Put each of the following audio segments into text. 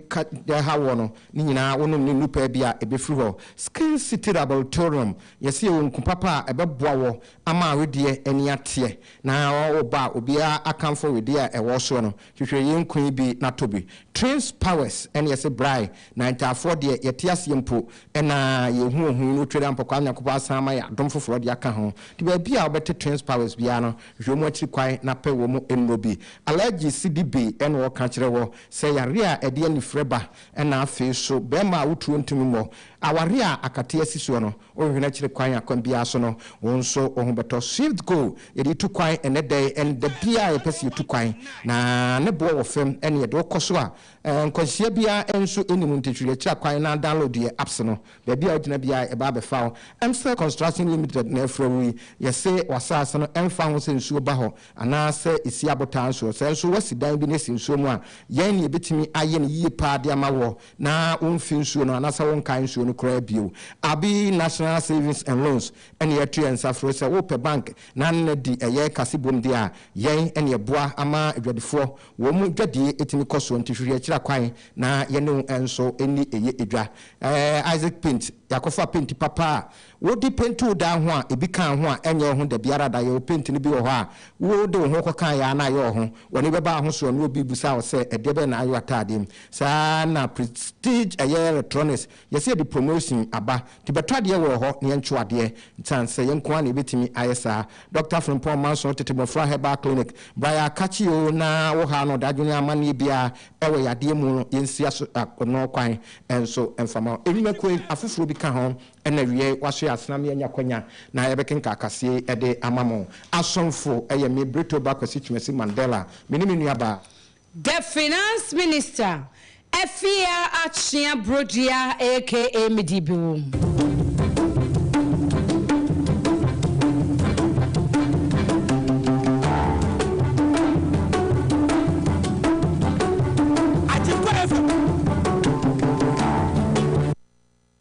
ka nea ɛhaw woɔ no ne nyinaa wonom ne nnu pɛ bi a ɛbɛfiri hɔ, Skin Cetera Bautorium, yɛse yɛwɔ nku papa a ɛbɛboa woɔ ama wedeɛ ani ateɛ na wo ba a obiara akamfo wedeɛ a ɛwɔ soɔ no, hwehwɛ yei nku yi bi na tɔ bi, Trins Powers ɛne yɛse Braai na Ntaafoɔ deɛ yɛte aseɛ mpo na yɛhu wɔ ho yi na otweri ampɔkwaa Nyankopɔn asan ama yɛ adom foforɔ de aka ho nti baabi a wobɛte Trins Powers biara no hwehwɛ wɔn akyiri kwan na pɛ wɔn nnuro bi, Allergies de bi ɛna wɔka kyerɛ woɔ Sɛ yare a ɛde anifere ba na afei so barima a woturo ntumi mmɔ aware a akate asi soɔ no, wohwehwɛ akyiri kwan a kwan biara so no wo nso wo ho bɛtɔ. Swift Go yɛde tu kwan ɛnnɛ da yi ɛne da biara a yɛpɛ sɛ yɛtu kwan, na ne boɔ wɔ fam ɛne yɛde wo kɔ so a nkwanhyia biara nso nni mu. Nti hwere akyiri kwan na download yɛn apps no, baabi a wogyina biara yɛbɛba abɛfa wo. Msel Construction Limited na ɛfrɛ wo yi. Yɛse w'asaase no ɛmfa ho sɛ nsuo ba hɔ Anaa sɛ esi abotan soɔ. Sɛ nso woasi dan bi na esi nsuo mu a, yɛn na yɛbɛtumi ayɛ no yie paa de ama woɔ na womfi nsuo no anaasɛ wonkae nsuo no koraa bio. Abi National Savings and Loans na yɛatu yɛn nsa frɛ wo sɛ wopɛ bank na na di ɛyɛ kase bom deɛ a, yɛn na yɛboa ama adwadifoɔ wɔn dwadie tumi kɔ soɔ. Nti hwehwɛ akyira kwan na yɛne wo nso nni ɛyɛ dwa. Ɛɛ Isaac Paint, yɛakɔfa penti papa a Wode penti wo dan ho a, ebi kaa ho a, ɛnyɛ wo ho da biara da. Yɛwɔ penti no bi wɔ hɔ a, wode wo ho kɔkaeɛ ara na ayɛ wo ho. W'ani bɛba ahosoɔ no, na obi rebisa wo sɛ, Ɛdeɛ bɛn na ayɛ w'ataadeɛ mu? Saa ara na Prestige ɛyɛ electronics. Yɛse yɛde promotion aba, nti bɛtɔ adeɛ wɔ hɔ na yɛntwo adeɛ. Ɛsiane sɛ yɛn nko ara na yɛbɛtumi ayɛ saa. Dɔkta Frimpong Manso Tete Mmɔfra Herbal Clinic, Bra yɛ akakye oo na wo ha no dadwene amanneɛ biara ɛwɔ yadeɛ mu no, yɛnsi aso no kwan nso mfa ma wo. Nnwumakuo afoforɔ bi ka ho Ɛna wiɛɛ wasoɛ asena me anya kwanya na ɛbɛkenka akaseɛ yi de ama mo. Asomfo, ɛyɛ me, Britoba Kwasi Twumasi Mandela, me ne me nua baa. The Finance Minister, Afia Akyea Brodua aka Midi Bewom.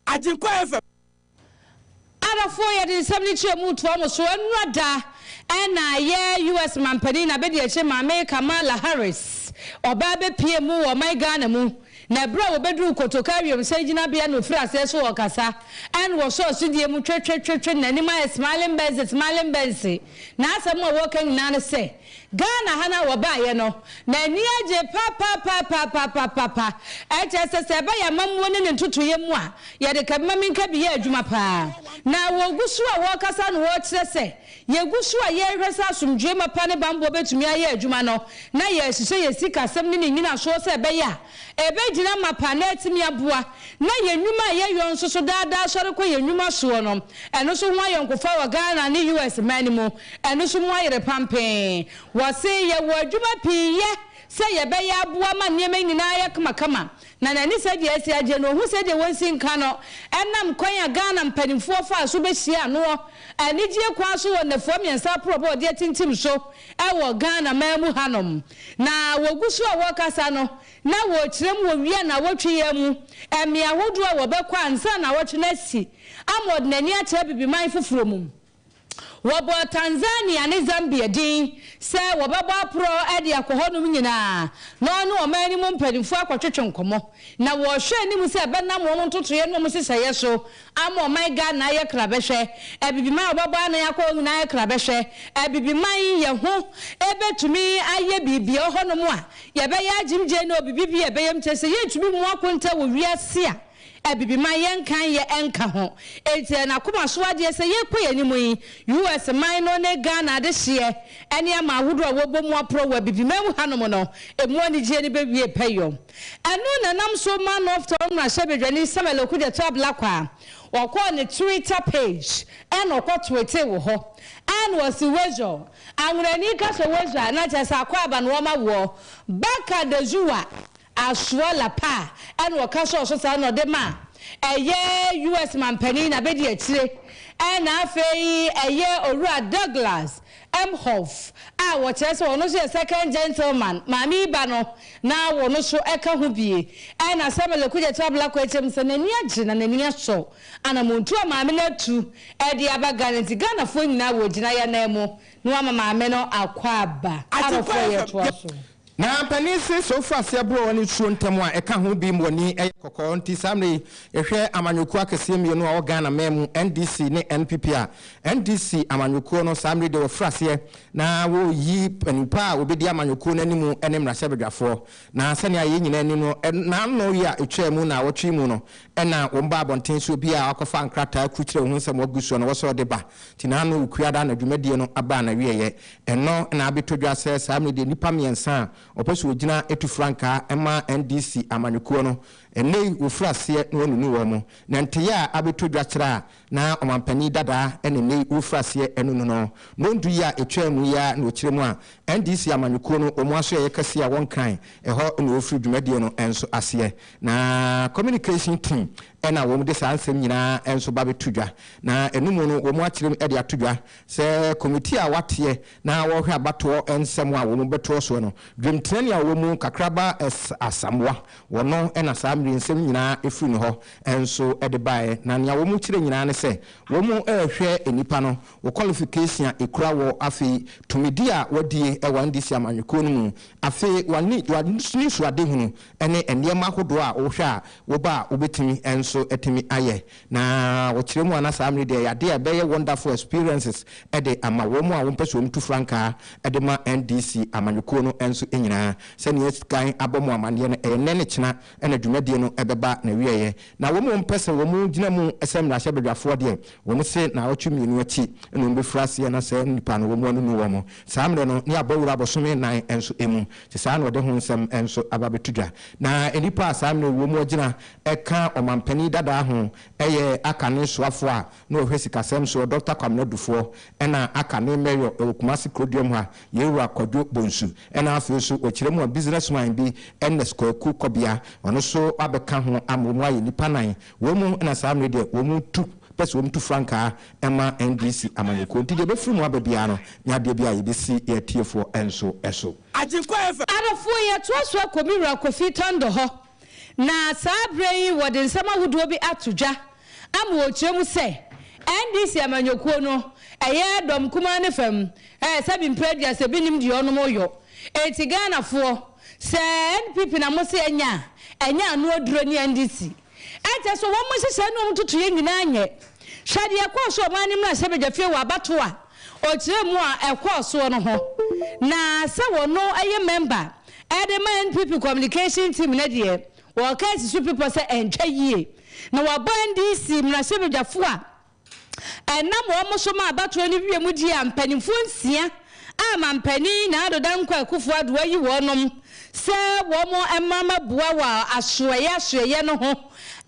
Agyenkwa FM. Adɔfoɔ yɛde nsɛm no nkyerɛmu toa mo so ɛnora da ɛna yɛ US manpanin na bɛdi akyire maame Kamala Harris ɔbaa bɛpie mu wɔ ɔman Ghana mu na ɛberɛ a wɔbɛduru Kotoka wiemhyɛn gyinabea no ɔfiri aseɛ so ɔɔkasa ɛna wɔsɔ asodie mu twetwetwetwe nanim ayɛ smiling bɛnse smiling bɛnse naasɛm a wɔɔka nyinaa ne sɛ Ghana ha na wɔbaeɛ no, na ani agye papapapapapaapa. Ɛkyerɛ sɛ sɛ ɛba yɛn amammuo ne ne ntotoeɛ mu a, yɛde ka bi ma menka bi yɛ adwuma pa ara. Na wɔgu so a wɔrekasa na wɔrekyerɛ sɛ yɛgu so a yɛrehwɛ sɛ asomdwoeɛ mapa ne banbɔ bɛtumi ayɛ adwuma no, na yɛrehyehyɛ yɛn sikasɛm ne ne nnyinasoɔ sɛ ɛbɛyɛ a ɛbɛgyina mapa na atumi aboa, na yɛn nnwuma a yɛyɔ nso so daa daa sɔre kɔ yɛn nnwuma soɔ no, ɛno nso ho ayɔnkofa wɔ Ghana ne US man no mu. Ɛno nso mu ayere pampee. Wɔse yɛwɔ adwuma pii yɛ sɛ yɛbɛyɛ aboa ma nneɛma nyinaa ayɛ kamakama. Na n'ani sɛ deɛ asi agye no, ɔhu sɛ deɛ wɔnsi nka no ɛnam kwan a Ghana mpanimfoɔ faa so bɛhyiaa noɔ anigyeɛ kwan so wɔ nnafua mmiɛnsa aporɔbɔ a ɔde atintim so wɔ Ghana man mu hanom. Na wɔgu so a wɔrekasa no, na wɔrekyerɛ mu wɔ wia nnawɔtwe yi ara mu mmea ahodoɔ a wɔbɛkɔ ansa nnawɔtwe no asi ama ɔde n'ani akyerɛ Abibiman foforɔ mu. Wɔbɔɔ Tanzania ne Zambia din sɛ wɔbɛbɔ aporɔ de akɔ hɔnom nyinaa na wɔne ɔman no mu mpanimfoɔ akɔtwetwe nkɔmmɔ. Na wɔrehwɛ anim sɛ ɛbɛnam wɔn ntotoeɛ ne wɔn nhyehyɛeɛ so ama ɔman Ghana ayɛ krabɛhwɛ. Abibiman a wɔbɛbɔ anan akɔ hɔ nyinaa ayɛ krabɛhwɛ. Abibiman, yɛ ho bɛtumi ayɛ biribi wɔ hɔnom a yɛbɛyɛ agyimgyeɛ ne obibi bi a ɛbɛyam kyerɛ sɛ yɛntumi mmu akonta wɔ wiase a Abibiman yɛnkan yɛ nka ho. Enti ɛyɛ n'akoma so adeɛ sɛ yɛrekɔ yɛn anim yi, US man no ne Ghana adehyeɛ nneɛma ahodoɔ a wɔabɔ mu aporɔ wɔ Abibiman mu hanom no, ɛmu anigyeɛ no bɛwie pɛyɛ. Ɛno na ɛnam so ma Northtown mmarahyɛbadwani Samuel Okudzeto Ablakwa a ɔkɔɔ ne Twitter page na ɔkɔtweetee wɔ hɔ na ɔse Weasel, Anwonani ka sɛ Weasel a na kyerɛ sɛ akwaaba na wɔma woɔ, Baka Dazuwa Asua Lappa ɛna ɔka sɔɔ so saa na ɔde ma ɛyɛ US manpanin na bɛdi akyire ɛna afei ɛyɛ Owura Douglas Emhoff a wɔkyerɛ sɛ ɔno nso yɛ second gentleman maame yi ba no na wɔn nso ɛka ho bie ɛna Samuel Okudzeto Ablakwa ɛkyɛm sɛ n'ani agye na n'ani asɔ anamontuo a maame no atu ɛde aba Ghana nti Ghanafoɔ nyinaa wɔ gyinaeɛ ananmu na wɔama maame no akwaaba Arɔfoɔ yɛtoa so. Na mpanin se sɛ wofa aseɛ boro wɔn nsuo ntɛm a, ɛka ho bim wɔn ani yɛ kɔkɔɔ. Nti saa mmerɛ yi, yɛhwɛ amanyɔkuo akɛseɛ mmienu a ɛwɔ Ghana man mu, NDC ne NPP a, NDC amanyɔkuo no, saa mmerɛ yi deɛ wɔafiri aseɛ na wɔreyi panipa a wɔbɛdi amanyɔkuo no anim ne mmarahyɛbadwafoɔ. Na sɛnea yɛn nyinaa nim no, na ano yi a ɛtwaa mu nnawɔtwe yi mu no, Ɛna wɔn baa abɔnten sɛ obi a wakɔfa nkrataa akurukyerɛ ho nsɛm agu soɔ na wɔsɛ ɔde ba, nti na ano rekua daa na dwumadie no abaa n'awieɛ. Ɛnɔ na abɛtɔ dwa sɛ saa mmerɛ deɛ nnipa mmiɛnsa a wɔpɛ sɛ wɔgyina tu frankaa ma NDC amanyɔkuo no, ɛnnɛ yi wɔfiri aseɛ na wɔanunu wɔn. Na nteyɛ a abɛtɔ dwa kyerɛ a Na ɔmanpanin dadaa ne nnɛ yi wɔfiri aseɛ ɛno no no no ndu yi a ɛtwaa mu yi ara na ɔkyerɛ mu a NDC amanyɔkuo no wɔn asoɛeɛ kɛseɛ a wɔnkan ɛhɔ na wɔfiri dwumadie no nso aseɛ na communication team na wɔn de saa nsɛm nyinaa nso ba bɛto dwa na ɛno mu no wɔn akyerɛ mu de ato dwa sɛ committee a wɔateɛ Na wɔrehwɛ abatoɔ nsɛm a wɔn bɛtoɔ soɔ no, dwemtenani a ɔwɔ mu kakra ba S. Asamoah, ɔno na saa mmere nsɛm nyinaa firi ne hɔ nso de baeɛ, na nea wɔn kyerɛ nyinaa ne sɛ wɔn rehwɛ nnipa no, wo qualification a ɛkura wɔ, afei tumidi a wɔadie wɔ NDC amanyɔkuo no mu, afei w'anisoadehunu ne nneɛma ahodoɔ a wohwɛ a woba a wobɛtumi nso atumi ayɛ Na ɔkyerɛ mu a na saa mmere deɛ yade a ɛbɛyɛ wonderful experiences de ama wɔn a wɔpɛ sɛ wɔn tu frankaa de ma NDC amanyɔkuo no nso nyinaa. Sɛnea kan abɔ mo amaneɛ no ɛyɛ nnɛ ne kyena na dwumadie no bɛba n'awieɛ. Na wɔn a wɔpɛ sɛ wɔn gyina mu sɛ mmarahyɛbadwafoɔ deɛ wɔn se naawɔtwe mmienu akyi na wɔn bɛfiri aseɛ na saa nnipa no wɔn anunu wɔn saa mmerɛ no ne abɔ awura abosome nnan nso mu. Te saa na ɔde ho nsɛm nso aba abɛto dwa. Na nnipa a saa mmerɛ yi wɔn agyina ɛka ɔmanpanin dadaa ho yɛ aka ne soafoɔ a na ɔhwɛ sikasɛm soɔ Dɔkta Kwamena Dufoɔ ɛna aka ne Mayor wɔ Kumasi Kuroduam ha Yewura Kwadwo Bonsu ɛna afei nso ɔkyerɛ mu a Business man bi Ernest Kwaku Kɔbea ɔno nso abɛka ho ama wɔn ayɛ nnipa nan wɔn mu na saa mmerɛ deɛ wɔn tu pɛ sɛ wɔn tu frankaa ɛma NDC amanyɔkuo nti deɛ ɛbɛfiri mu aba biara no nyɛ adeɛ bi a yɛbɛsi yɛn atiefoɔ nso so. Agyenkwa FM. Adɔfoɔ yɛtoa so akɔ me wura Kofi Tando hɔ. Na saa berɛ yi wɔde nsɛm ahodoɔ bi ato dwa ama wɔkyerɛ mu sɛ NDC amanyɔkuo no ɛyɛ dɔm kumaa ne fam ɛɛ sɛbi mprɛ aduasa bi nim deɛ ɔnom yɔ enti Ghanafoɔ sɛ NPP na mo se ɛnyɛ a ɛnyɛ ano aduro ne NDC ɛnkyɛ so wɔn nhyehyɛɛ ne wɔn totoyɛ nyinaa nyɛ hwɛ deɛ ɛkɔɔ so ɔman no mmarahyɛ badwafie wɔ abatoɔ a ɔkyerɛ mu a ɛkɔɔ soɔ no ho na sɛ wɔno ɛyɛ mɛmba Ɛde ma NPP communication team no deɛ, wɔka asi so pipɔ sɛ ɛntwa yie na wɔabɔ NDC mmarahyɛbadwafo a ɛnam wɔn so ma abatoɔ no wie mu deɛ a mpanimfoɔ nsia a mampanin Nado Dankwa Akufo-Addo ayi wɔnom sɛ wɔn mma mmɛboa wɔ asoɛeɛ asoɛeɛ no ho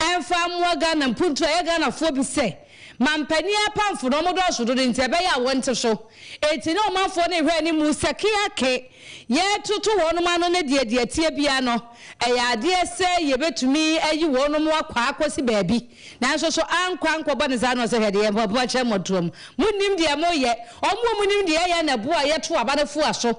mfa mmoa Ghana mpuntuo a ɛyɛ Ghanafoɔ bi sɛ Ma mpanin apamfo no, wɔdɔɔso dodo nti, ɛbɛyɛ a wɔnte so. Enti na ɔmanfoɔ no rehwɛ anim sɛkeake, yɛretoto wɔnom ano ne deɛ deɛ ɛteɛ biara no, ɛyɛ adeɛ sɛ yɛbɛtumi ayi wɔnom akɔ akɔsi baabi. Nanso so ankɔ ankɔbɔ no saa na ɔsɛ hwɛ deɛ moakyerɛ mmɔtoam. Monnim deɛ moreyɛ. Wɔn a wɔnim deɛ yɛyɛ na ɛboa a yɛto aba no foa so.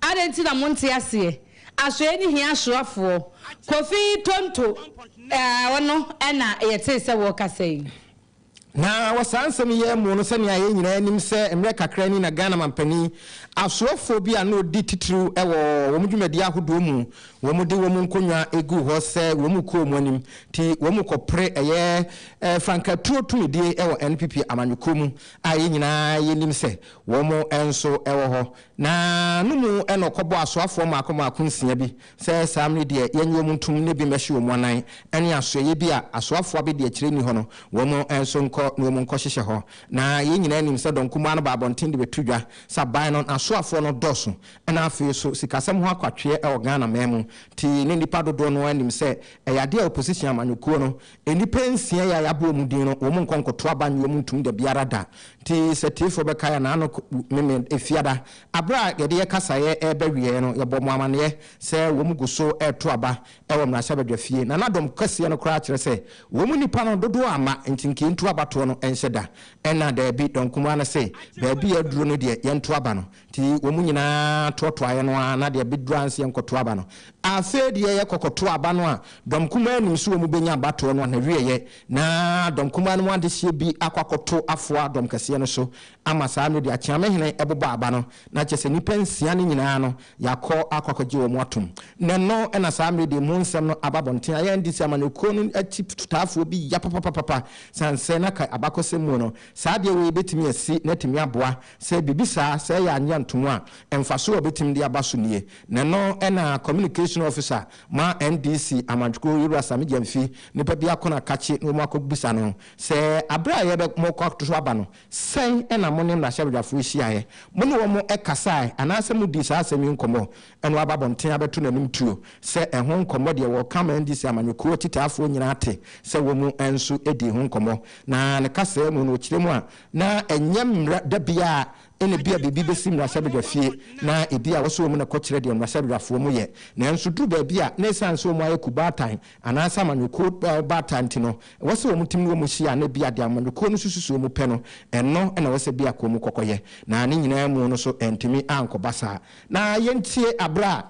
Adɛn nti na monte aseɛ? Asoɛe no hia asoafoɔ. Kofi Tonto, eh, ɔno na yɛtee sɛ wɔrekasa yi. Na wɔ saa nsɛm yi ara mu no, sɛnea yɛn nyinaa nim sɛ mmerɛ kakra ni na Ghana mampanin asoafoɔ bi a na ɔdi titiriw wɔ wɔn dwumadie ahodoɔ mu, wɔde wɔn nkonnwa guu hɔ sɛ wɔnkɔ wɔn anim, nti wɔkɔpere ɛyɛ frankatuo tumidie wɔ NPP amanyɔkuo mu a yɛn nyinaa yɛnim sɛ wɔn nso wɔ hɔ. Na no mu na ɔkɔbɔɔ asoafoɔ mmaako mmaako nsia bi, sɛ, Saa mmere deɛ yɛnnye wɔn ntom na ebi mmɛhye wɔn anan, ɛne asoɛeɛ bi a asoafoɔ abɛdiakyire nni hɔ no, wɔn nso nkɔ na wɔn nkɔhyehyɛ hɔ. Na yɛn nyinaa nim sɛ dɔn kumaa no ba abɔnten de bɛto dwa, sɛ aban no n'asoafoɔ no dɔɔso. Ɛna afei nso, sikasɛm ho akwatweɛ wɔ Ghana man mu, nti ne nnipa dodoɔ no ara nim sɛ ɛyɛ adeɛ a opposition amanyɔkuo no Nnipa nsia yi a yɛabɔ wɔn din no, wɔnkɔ nkɔto aba nnye wɔn ntom da biara da. Enti sɛ atiefoɔ bɛkae a, n'ano meme Efiada. Berɛ a yɛde yɛn kasaeɛ reba awieeɛ no, yɛbɔɔ wɔn amanneɛ sɛ wɔn gu so reto aba wɔ mmarahyɛbadwafie, na na dɔm kɛseɛ no koraa kyerɛ sɛ wɔn nnipa no dodoɔ amma enti nka yɛntu abatoɔ no nhyɛ da. Ɛnna daabi, dɔnkumaa no se, Baabi a aduro no deɛ, yɛnto aba no. Nti wɔn nyina ara toatoaeɛ no ara na deɛ bɛduru anseɛ nkɔto aba no. Afei deɛ yɛkɔ kɔto aba no a, dɔm kumaa nim sɛ wɔn bɛnya abatoɔ no anawieɛ, na dɔm kumaa no mu adehyeɛ bi akɔ akɔto afoa dɔm kɛseɛ no so ama saa mmerɛ deɛ Akyeamehene bobɔ aba no, na kyerɛ sɛ nnipa nsia no nyina ara no yɛakɔ akɔ akɔgye wɔn atom. Na ɛno na saa mmerɛ deɛ mu nsɛm no aba abɔnten. Ayɛ nde sɛ amanyɔkuo no akyitaafoɔ bi ya papapapapa, sane sɛ na ka abakɔsɛm mu no saa adeɛ wei bɛtumi asi na atumi aboa Sɛ biribi saa sɛ yɛ annyɛ antom a, mfaso a obetumi de aba so nie. Na ɛno na Communication Officer ma NDC Amantwkurow Yewura Sammy Gyamfi nnipa bi akɔ no akakye na wɔn akɔbisa no sɛ bere a yɛbɛ morekɔ ato so aba no, sɛn na mo ne mmarahyɛbadwafo yi hyiaeɛ? Mo ne wɔn kasae anaasɛ mo dii saa asɛm yi nkɔmmɔ? Ɛna waba abɔnten abɛto n'anim tuo sɛ ɛho nkɔmmɔ deɛ wɔreka ama NDC Amanyɔkuo akyitaafoɔ nyinaa ate sɛ wɔn nso dii ho nkɔmmɔ. Na ne kasaa mu no ɔkyerɛ mu a Na ɛnyɛ mmara da biara a ɛna bi a biribi bɛsi mmarahyɛbadwa fie na ɛbi a wɔsɔ wɔn mu na kɔkyerɛ deɛ mmarahyɛbadwafoɔ mu yɛ. Nanso duru baabi a na ɛsiane sɛ wɔn ayɛ ku baatan anaasɛ amanyɔkuo baatan nti no, ɛwɔ sɛ wɔn tim ne wɔn hyia a na bi a deɛ amanyɔkuo no susu sɛ wɔn pɛ no, ɛno na ɛwɔ sɛ biako mu kɔkɔyɛ. Na ne nyinaa mu no so antumi ankɔba saa. Na yɛntie aberɛ a.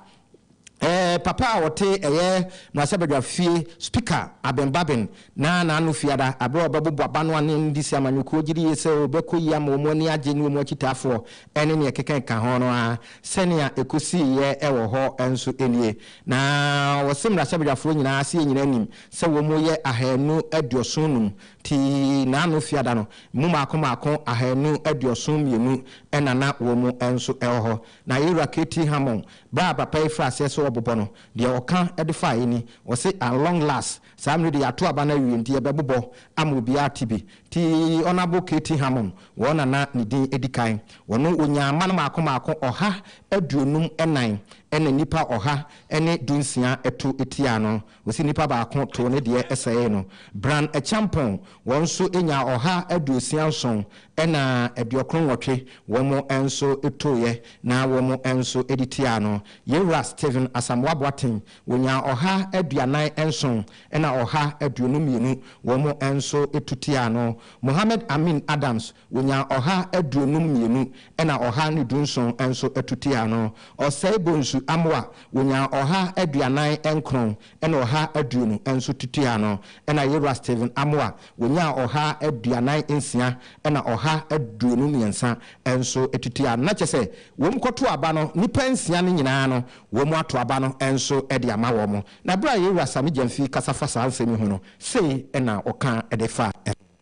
Ɛɛ papa a ɔte ɛyɛ mmarahyɛbadwa fie spika Aben Babin na n'ano fiada aberɛ a ɔbɛbobɔ abano anen de si amanyɔkuo gyidi yie sɛ ɔbɛkɔ yie ama wɔn ani agye ne wɔn akyitaafoɔ ɛne neɛ ɛkeka ɛka ho no ara sɛnea ɛkɔsiiɛ ɛwɔ hɔ nso nie na ɔse mmarahyɛbadwafoɔ nyinaa aseɛ nyinaa nim sɛ wɔn yɛ ahanu aduoson num nti n'ano fiada no mu mmaako mmaako ahanu aduoson mmienu na na wɔn nso ɛwɔ hɔ Na Ira katii Hamon berɛ a papa yi firii aseɛ sɛ ɔrebobɔ no, deɛ ɔka de faeɛ ni, ɔse, At long last, saa mmerɛ deɛ yɛato aba no awie, enti yɛbɛbobɔ ama obiara te bi. Nti Honourable katii Hamon, wɔn na na ne din di kan, ɔno ɔnyaa mma no mmaako mmaako ɔha aduonum nnan, ɛna nnipa ɔha ne dunsia to tiaa no, Wɔsi nnipa baako too ne deɛ ɛsɛee no. Bran Acheampong, wɔn nso nyaa ɔha aduosia nson ɛna aduokron nwɔtwe, wɔn nso tooeɛ na wɔn nso de tiaa no. Yɛn Wura Stephen Asamoah Boateng, wɔnyaa ɔha aduanan nson ɛna ɔha aduonu mmienu, wɔn nso to tiaa no. Mohammed Amin Adams, Wonyaa ɔha aduonum mmienu ɛna ɔha ne dunson nso to tiaa no. Ɔsɛe Bonsu Amoah, wonyaa ɔha aduanan nkron ɛna ɔha aduonu nso to tiaa no. Ɛna Yewura Stephen Amoah, wonyaa ɔha aduanan nsia ɛna ɔha aduonu mmiɛnsa nso to tiaa no. Na kyerɛ sɛ, wɔn kɔto aba no, nnipa nsia no nyinaa no, wɔn ato aba no nso de ama wɔn. Na berɛ a Yewura Sammy Gyamfi kasa fa saa nsɛm yi ho no, sei na ɔka de fa ho.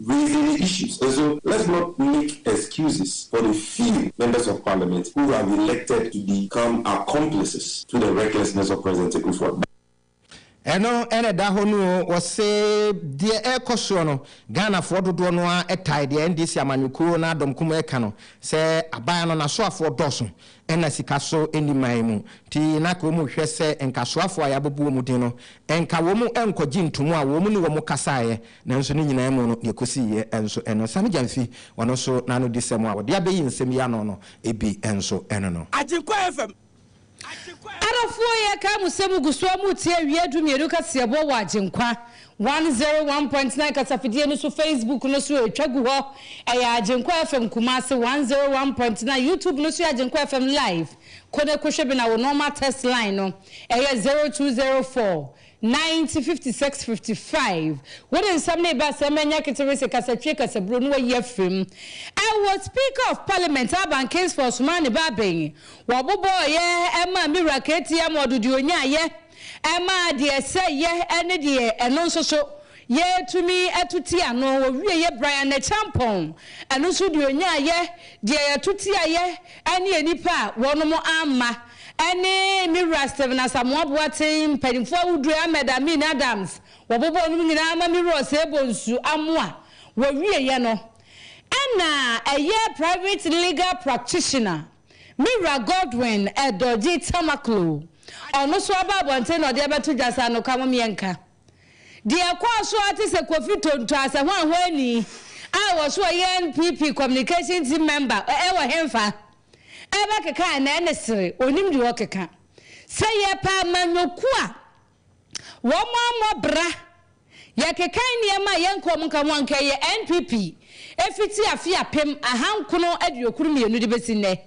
Raising the issues nso let's not make excuses for the few members of parliament who have elected to become accomplices to the recklessness of President Akuffo-Addo. Ɛno na ɛda hɔ no o. Wɔse deɛ ɛrekɔ soɔ no, Ghanafoɔ dodoɔ no ara tae deɛ NDC amanyɔkuo no adɔm kum reka no sɛ aban no n'asoafoɔ dɔɔso Nna sika so nni man mu, ntsi na nka wɔhwɛ sɛ nkasoafo a yɛabɔbɔ wɔn dzin no, nka wɔn nkɔgye ntomu a wɔn nye wɔn kasaeɛ. Nanso ne nyinaa mu no, deɛ ɛkɔsiiɛ nso no, nsane gyamfi ɔno nso n'anodisɛm a ɔde abɛyi nsɛm yi ano no bi nso no no. Agyenkwa FM, Agyenkwa FM. Adɔfoɔ yɛrekae mo sɛ mogu so a moretie Awia Dummienu kaseɛbɔ wɔ Agyenkwa One zero one point nine kasafidie no so Facebook no so ɛtwa gu hɔ ɛyɛ Agyenkwa FM Kumasi one zero one point nine YouTube no so yɛ Agyenkwa FM live kone kohwɛ bi na wo normal text line no ɛyɛ zero two zero four ninety fifty six fifty five wo de nsɛm no reba sɛmma nya keterese kasatwie kasaburo no wayi afiri mu ɛwɔ Speaker of Parliament Alban Kingsford somaa ne ba abɛn wɔbobɔɔ yɛ ɛmaa me wura KTM ɔdo deɛ ɔnyaayɛ. ɛmaa deɛ ɛsɛ yɛ ne deɛ ɛno nso so yɛ tumi to ti ano. Wɔwieɛ Brian Acheampong, ɛno nso deɛ ɔnyaa yɛ deɛ yɛto ti ayɛ ne nnipa a wɔnom amma ne me wura Stephen Asamoah Boateng, mpanimfoɔ ahodoɔ Ahmed Amin Adams, wɔbobɔɔ nom nyinaa ma me wura Osei Bonsu Amoah. Wɔwieɛ no ɛna ɛyɛ Private Legal Practitioner. Me wura Godwin Edorji Tamakloe, ɔno nso aba abɔnten na ɔde abɛto dwa sɛ anoka mom yɛnka. Deɛ ɛkɔɔ so ara te sɛ Kofi Tonto asɛhoahoani a wɔso ɔyɛ NPP communication team member wɔ henfa ɛbɛkeka a na ɛne sere, ɔnim deɛ ɔkeka. Sɛ yɛpɛ amanyɔkuo a. wɔammɔ bra. Yɛkekan nneɛma a yɛnka wɔn nka ho a, anka ɛyɛ NPP fiti afe apem ahankono aduokron mmienu de bɛsi nnɛ.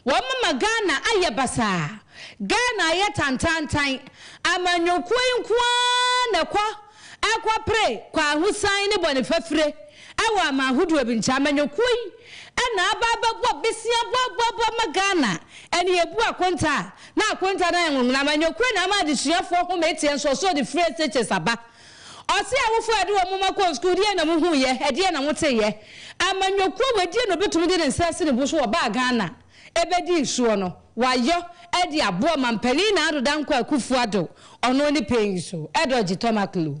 Wɔama Ghana ayɛ basaa. Ghana ayɛ tantaantan. Amanyɔkuo yi nko ara na ɛkɔ ɛkɔpere kwahosan ne bɔnefafire wɔ aman hodoɔ bi nkyɛn. Amanyɔkuo yi Ɛna aba abɛbɔ besia boaboaboa ma Ghana. Ɛna yɛbu akonta a, na akonta no ayɛ nwonwona ma Nyokwre na ama adesuafoɔ home atia nsuɔsoɔ de firi SHS aba. Ɔse awofoɔ a yɛde wɔn mma kɔɔ sukuu, deɛn na mohuuiɛ? Ɛdeɛn na moteeɛ? Ama Nyokwre wadie na ɔbɛtumi de ne nsa asi ne bo so ɔbaa Ghana bɛdii soɔ no, wayɔ de aboa Ɔmampanin Nana Ado Dankwa Akufo-Addo, ɔno ne Pɛn Nsuo, Edogye Tomakloe.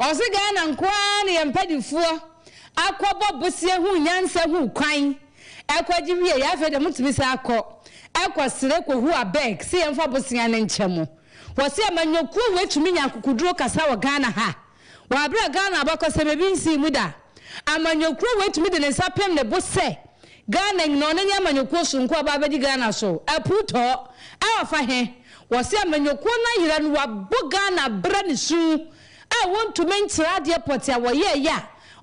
Ɔse Ghana nkoaa na yɛn mpanifoɔ akɔ bɔ boseɛ huu nyansa huu kwan ɛkɔ gye wie yɛ afei deɛ motumi san akɔ ɛkɔ sere kɔ hu abeg se yɛnfa boseɛ no nkyɛ mo wɔse amanyɔkuo wei tumi nya akokoduro kasa wɔ Ghana ha wɔ abere a Ghana abakɔsɛm ebi nsii mu da. Amanyɔkuo wei tumi de ne nsa pem ne bo sɛ Ghana nyina ɔno ne amanyɔkuo sonko a ɔba abɛdi Ghana so apuu tɔɔ a ɔfa he? Wɔse amanyɔkuo no ayera no wabɔ Ghana abra ne su a wɔntumi nkyerɛ adeɛ pɔte a wɔyɛɛyɛ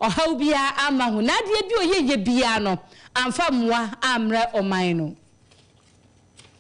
a ɔhaw biara amma ho na adeɛ bi ɔyɛɛyɛ biara no amfa mmoa ammrɛ ɔman no.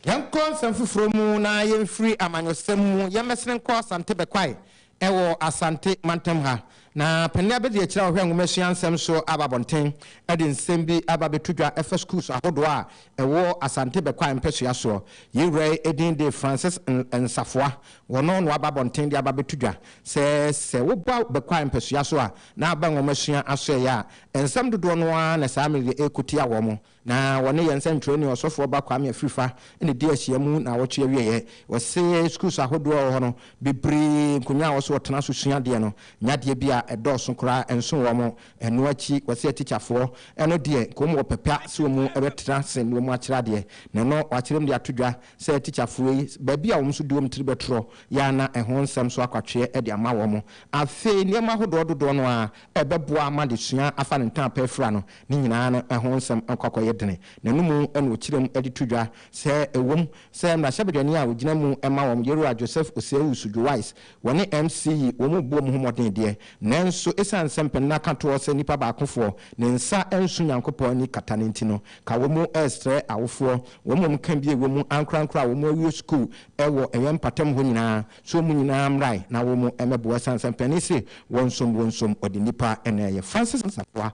Yɛnkɔ nsɛm foforɔ mu na yɛmfiri amanyɔsɛm mu yɛmmɛsene nkɔ Asante Bɛkwae Ɛwɔ Asante mantam ha na panin abadiakyiri a ɔhwɛ nwomasua nsɛm so aba abɔnten de nsɛm bi aba abɛto dwa ɛfa sukuus ahodoɔ a ɛwɔ Asante Bɛkwae mpɛsoa soɔ. Yei wura yi din de Francis Nsafoa. Wɔno na waba abɔnten de aba abɛto dwa sɛ sɛ woba Bɛkwae mpɛsoa so a na aba nwomasua asoɛeɛ a, nsɛm dodoɔ no ara na saa mmerɛ yi ɛrekɔtia wɔn. Na wɔne yɛn sɛnkyerɛwni Ɔsɔfoɔ Ba Kwame Afrifa na ɛdi ahyia mu naawɔtwe awieɛ. Wɔse sukuus ahodoɔ wɔ hɔ no, bebree nkonwa a wɔse wɔtena so sua adeɛ no, nya adeɛ bi a ɛdɔɔso koraa ɛnso wɔn. Ɛno akyi wɔse atikyafoɔ no deɛ nka wɔn wɔ pɛ pa sɛ wɔn bɛtena ase na wɔn akyerɛ adeɛ. Na ɛno wɔakyerɛ mu de ato dwa sɛ atikyafoɔ yi baabi a wɔn nso de wɔn tiri bɛtorɔ yi ara na ɛho nsɛm nso akwatweɛ de ama wɔn. Afei nneɛma ahodoɔ dodoɔ no ara ɛbɛboa ma adesua afa ne ntɛn apɛ afira no. Ne nyinaa no, ɛho nsɛm akɔ akɔyɛ dene. N'anom na ɔkyerɛ mu de to dwa sɛ ɛwom sɛ mmarahyɛbadwani a ɔgyina mu ma wɔn, Yeroa Joseph Osei-Usu Joais, wɔne MC yi wɔn bɔɔ mu ho mmɔden deɛ, nanso ɛsiane sɛ mpanin no aka toɔ sɛ nipa baakofoɔ ne nsa nso Nyankopɔn ani kata no nti no, ka wɔn resrɛ awofoɔ wɔn a wɔka bi a ɛwɔ mu ankorankoro a wɔawie sukuu wɔ ɛyɛn mpɔtam hɔ nyinaa sɛ wɔn nyinaa mmrae na wɔmmɛboa ɛsiane sɛ mpanin se wɔnsom wɔnsom ɔde nipa na ɛyɛ. Francis Asamoah.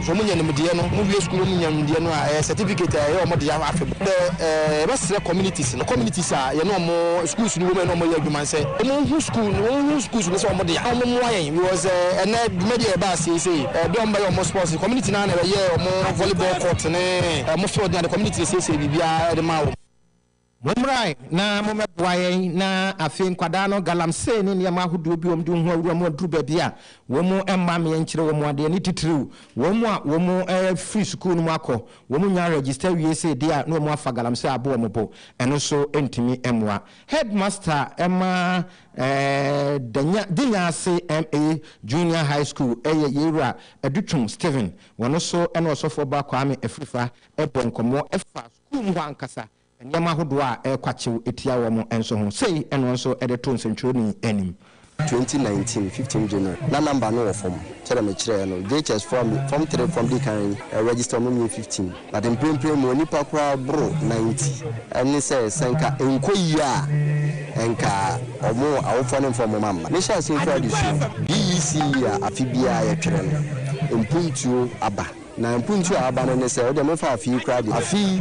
sɛ wɔn nya nimdeɛ no, wɔn wie sukuu na wɔn nya nimdeɛ no a, ɛyɛ certificate a ɛyɛ wɔn dea afe bɔ. Sɛ ɛɛ yɛbɛ srɛ communities no, communities a yɛne wɔn schools no wɔ mu a yɛne wɔn yɛ adwuma no sɛ wɔn nhu school no, wɔn nhu schools no sɛ wɔn dea na wɔn mmoa yɛn because ɛɛ ɛnɛ dwumadi a yɛba aseɛ yi sei, ɛɛ bia wɔn bɛyɛ wɔn sports no, community no ara na ɛbɛyɛɛ wɔn volleyball court ne wɔn field ne ade, community na ɛsiesie biribiara de maa wɔn. Mommra na mommɛboa yɛn na afei nkwadaa no galamsey ne nneɛma ahodoɔ bi wɔn de wɔn ho awura mu aduru baabi a wɔn mma meɛ nkyerɛ wɔn adeɛ ne titiriw wɔn a wɔn firi sukuu no mu akɔ wɔn nnya register wie sei deɛ a na wɔn afa galamsey abɔ wɔn bo ɛno nso ntumi mmoa Headmaster ma Danya Dinyase MA Junior High School ɛyɛ Yei Wura Adutwum Stephen wɔn nso ne Ɔsɔfoɔ Ba Kwame Afrifa bɔɔ nkɔmmɔ ɛfaa kuw mu hɔ ankasa, nneɛma ahodoɔ a ɛrekwakyew tia wɔn nso ho. Sei na wɔn nso de too nsɛntwerɛni anim. 2019 15 January na number no wɔ fam sɛ deɛ mekyerɛɛ no JHS foɔ a form three foɔ a mede kan register wɔn nyɛ fifteen but mprempren mewɔ nnipa koraa boro ninety ɛne sɛ sɛ nka ɛnkɔ yie a nka wɔn awofoɔ ne mfa wɔn amma mehyɛ aseɛ mfiri adesua BECE a afe biara yɛtwerɛ no mpuntuo aba Na mpontu a aba no ne sɛ, wodeɛ momfa afe yi koraa deɛ. Afe yi,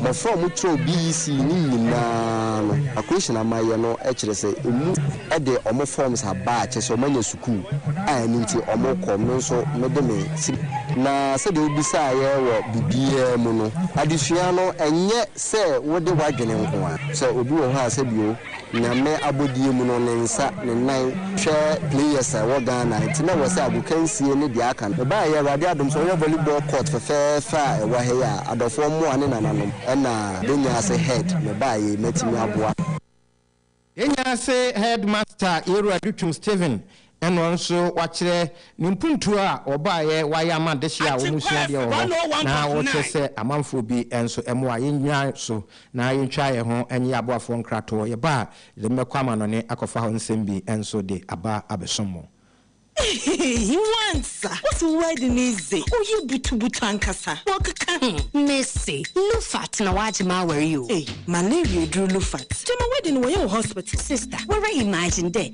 mmɔfra a wɔn kyerɛw BEC no nyinaa no, equation a wɔayɛ no kyerɛ sɛ ɛmu de wɔn forms aba a kyerɛ sɛ wɔn anya sukuu a ɛno nti wɔn rekɔ, me nso me de me sika. Na sɛdeɛ wo bisaeɛ wɔ biribiara mu no, adesua no ɛnyɛ sɛ wode w'adwene nko ara, sɛ obi wɔ hɔ a sɛbi o, Nyame abɔdeɛ mu no ne nsa, ne nan, hwɛ players a ɛwɔ Ghana nti na ɛwɔ sɛ agokansie ne deɛ aka no ɛbaeɛ Awurade adom sɛ wɔnya volleyball court fɛfɛɛfɛ a ɛwɔ ha yi a adɔfoɔ mmoa ne nananom ɛna bɛnya ase head mebaeɛ yi mɛtumi aboa. Yɛnya ase head master Yeru Adutwum Stephen Ɛno nso wɔakyerɛ ne mpuntuo a wɔbaeɛ wɔayɛ ama adehyeɛ a wɔsua adeɛ wɔ hɔ na wɔkyerɛ sɛ amanfoɔ bi nso mmoa yɛnnyina so na yɛntwa yɛn ho nyɛ aboafoɔ nkratoɔ yɛba a yɛde mo bɛkɔ amanɔne akɔfa hɔ nsɛm bi nso de aba abɛsom mo. He wants a What's word no dze ɔyɛ butubutu ankasa wɔkeka ho. Mese lufat na wagye m'aware o. Ei malaria aduru lufat gyama wedding wɔyɛ wɔ hospital. Sister wara imagine dɛ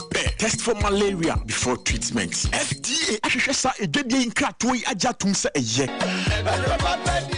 pɛ test for malaria before treatment. FDA ahwehwɛ saa adwadie yi nkratoɔ yi agye atom sɛ ɛyɛ.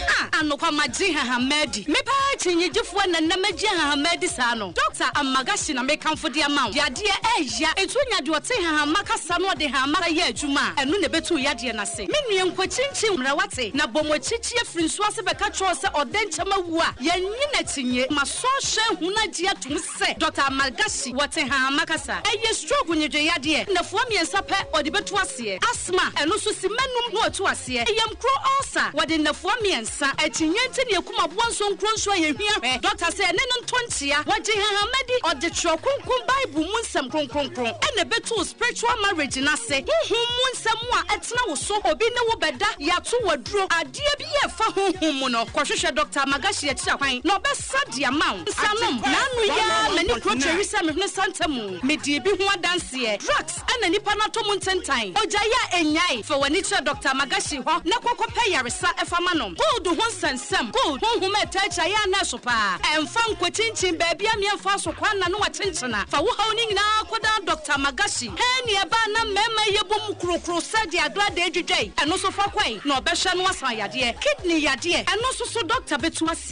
Ah, anokwa magye hahama adi. Me paa akyinnyegyefoɔ na nnɛ magye hahama adi saa no. Doctor Amagashi na mekamfo de ama wo. Yadeɛ ɛɛya. Nti wonya deɛ ɔte hahama kasa na ɔde hahama kasa yɛ adwuma a, ɛno na ɛbɛtu wo yadeɛ no ase. Me nua nkwa kyinkyin mmra wate, na bɔ mu akyikyie firi nsuo ase bɛka kyerɛ wo sɛ ɔdɛnkyɛm awu a, yɛnnye no akyinnye. Masɔ ahwɛ ahunu agye atom sɛ. Sɛ Dɔkta Malgashi wɔ Tehama kasa. Ɛyɛ stroke nwedweyadeɛ nnafua mmiɛnsa pɛ ɔde bɛtu aseɛ. Asthma, ɛno nso simma nnum na ɔtu aseɛ. Yamkuro ulcer, wɔde nnafua mmiɛnsa. Akyinnye nti na ɛkum aboa nsuo nkuro nso a yɛhia hwɛ. Dɔkta sɛ ɛne no ntɔ nkyea. Wɔgye Tehama di, ɔde Twerɛ Kronkron Bible mu nsɛm kronkronkron na ɛbɛtu wo spiritual marriage no ase. Honhom mu nsɛm a ɛtena wo so, obi ne wo bɛda, yɛato wo aduro, adeɛ biara a ɛfa honhom mu no, kɔhwehwɛ Dɔkta Malgashi akyiri akwan na ɔbɛ. Sa de ama wo nsa nom. Na ano yi ara m'ani kuro tweri sɛ mehunu santa mu. Medii bi ho adanseɛ. Drugs na nipa no atɔ mu ntentan. Ogyae a ɛnnyae. Fa w'ani kyerɛ Doctor Magashi hɔ na kɔ kɔpɛ yaresa fa ma no. Gold ho nsɛnsɛm, gold honhom a ɛtaa kyia yɛ a na ɛso pa ara. Ɛmfa nkɔkyinkyin baabi a mmea mfaa so kwan na no akyenkyena. Fa wo haw no nyinaa kɔdan Doctor Magashi. Hɛn nea ɛbaa na mmarima yi bɔ mu kurokuro sɛ deɛ agradaa dwidwae. Ɛno nso fa kɔe na ɔbɛhwɛ na wasan yadeɛ. Kidney yadeɛ, ɛno nso so Doctor bɛtu aseɛ.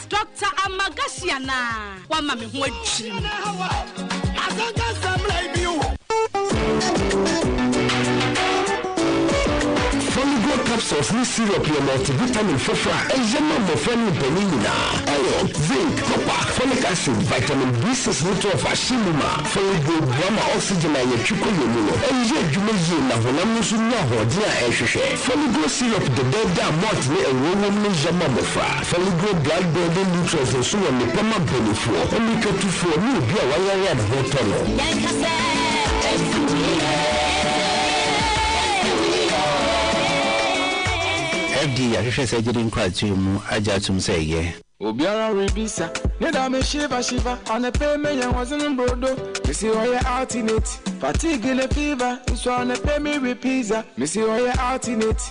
Doctor Amagashi anaa? Wama me ho adwiri me. Foligo capsules ne syrup yɛ multivitamin foforo a ɛyɛ ma mmɔfra ne mpanyin nyinaa. Iron, zinc, copper, folic acid, vitamin B6 ne 12 ahyɛ mu ma. Foligo boa ma oxygen a yɛtwe kɔ yɛn mu no yɛ adwuma yie na honam no nso nya ahoɔden a ɛhwehwɛ. Foligo syrup dedaada a malt ne ngo wom no yɛ ma mmɔfra. Foligree blood building nutrients nso wɔ nnepa ma bonifoɔ, mmirikatufoɔ ne obi a wayare a ne ho retɔ no. Yɛnka sɛ, Ɛtumi yɛ, ɛtumi yɛ. Ɛde yɛahwehwɛ sɛ gyede nkratoe mu agye atom sɛ ɛyɛ. Obiara rebisa ne da me shiva shiva Anɛpɛ mɛyɛ wɔdze no mbrodo Mese ɔyɛ alternate Fatigue ne fever Nso anɛpɛ me we pizza Mese ɔyɛ alternate.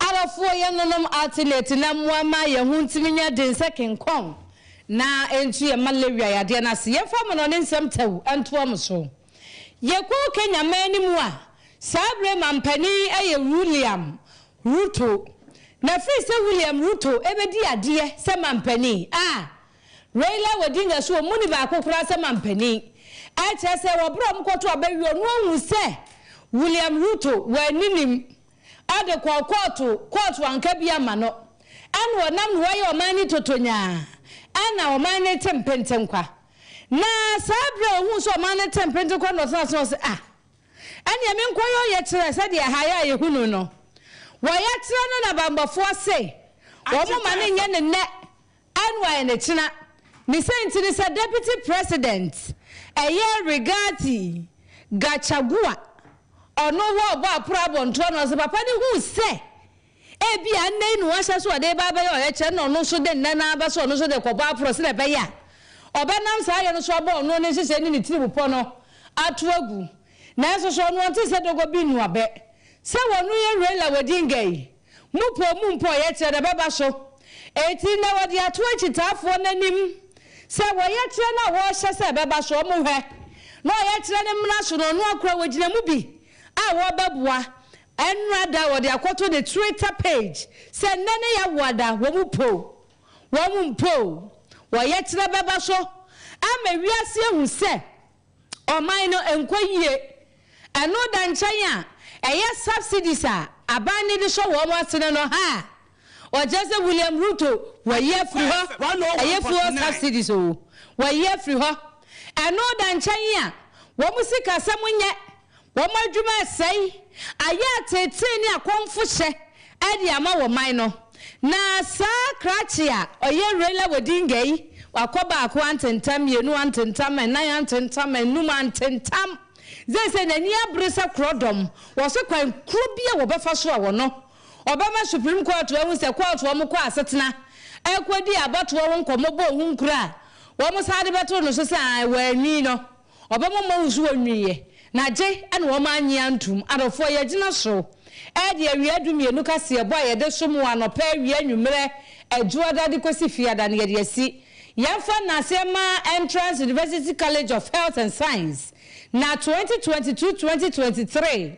Arɔfoɔ yɛ nonom alternate na mmoa ma yɛn ho ntumi nyɛ den sɛ kenkɔn na ɛntu yɛn mma Lewia yadeɛ no ase. Yɛmfa amanɔne nsɛm tɛw ntoa mo so. Yɛkɔ Kenya man no mu a, saa berɛ mampanin yɛ William Ruto. Na firi sɛ William Ruto bɛdi adeɛ sɛ mampanin a, Raila Odinga nso wɔn mu ni baako koraa sɛ mampanin. Ɛkyerɛ sɛ wɔ berɛ a wɔkɔto aba wie ɔno ahu sɛ William Ruto wɔ aninim. Ɔde kɔɔ kɔɔto, kɔɔto anka bi amma no. Ɛna ɔnam no wɔyɛ ɔman no totonyaa. Ɛna ɔman no te mpentenkwa. Na saa berɛ a ɔhuu sɛ ɔman no te mpentenkwa no na ɔtenaa ase na ɔse, Ah! Ɛneɛ menkɔyɛ ɔyɛkyerɛ sɛdeɛ ɛha yɛ a yɛhunu no. Wɔyɛkyerɛ no na bammɔfoɔ se wɔmma no nyɛ no nnɛ NY ne kyena ne sɛ nti ne sɛ Deputy President ɛyɛ Rigathi Gachagua ɔno wɔ ɔbɔ aporo abɔntoɔ no ɔse papa no huu sɛ ebia nnɛ yi na wahyɛ so ɔde ba abɛyɛ ɔyɛkyerɛ na ɔno nso de nnɛ no ara bɛso ɔno nso de kɔbɔ aporo sɛdeɛ ɛbɛyɛ a ɔbɛnam saa yɛ no so abɔ ɔno ne nhyehyɛ ne ne tirimupɔ no ato agu nanso so ɔno ɔnte sɛ dogo bi nnuabɛ sɛ wɔno yɛ Raila Odinga yi Mopoo mu mpo ɔyɛkyerɛ na ɛbɛba so. Enti na wɔde ato akyitaafoɔ no anim sɛ wɔyɛkyerɛ no a wɔrehyɛ sɛ ɛbɛba so, wɔhwɛ na ɔyɛkyerɛ no mmra so no, ɔno ankora wɔgyina mu bi a wɔrebɛboa ɛnnora da a wɔde akɔto ne Twitter page sɛ nnɛ ne Yawoa da. Wɔn poo. Wɔn mpoo. Wɔyɛkyerɛ bɛba so ama wiase ahu sɛ ɔman no nkɔ yie. Ɛno da nkyɛn a, ɛyɛ subsidies a aban no de hyɛ wɔn asene no ha a, wɔkyerɛ sɛ William Ruto wayi afiri hɔ. Ɛyɛ fuel subsidies o, wayi afiri hɔ. Ɛno da nkyɛn a, wɔn sikasɛm nyɛ Wɔn adwuma resɛe, ayɛ ateetee ne akɔmfohyɛ de ama wɔ man no. Na saa krakye a ɔyɛ Raila Odinga yi, wakɔ baako antentam, mmienu antentam, nnan antentam, anum antentam. Seesei n'ani abere sɛ korɔdɔm, wɔse kwan korɔ bi a wɔbɛfa so a wɔno, ɔbɛma Supreme Court ahu sɛ court wɔn kɔ asetena kɔdi abatoɔ ho nkɔmmɔ bɔ ho nkura a wɔn san de bɛto no so sɛ ae, wɔanni no. Ɔbɛma ɔma wo nsuwa nwiiɛ, na gye na wɔn annye antom. Adɔfoɔ, yɛagyina so redi awia dumienu kaseɛbɔ a yɛde som wo anɔpa, awia, anwummerɛ, Adwoada de kɔsi Fiada no yɛde asi. Yɛmfa no ase mma Entrance University College of Health and Science na 2022-2023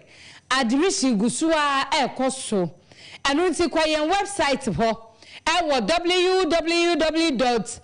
admission gu so ara rekɔ so. Ɛno nti kɔ yɛn wɛbsaet hɔ wɔ www.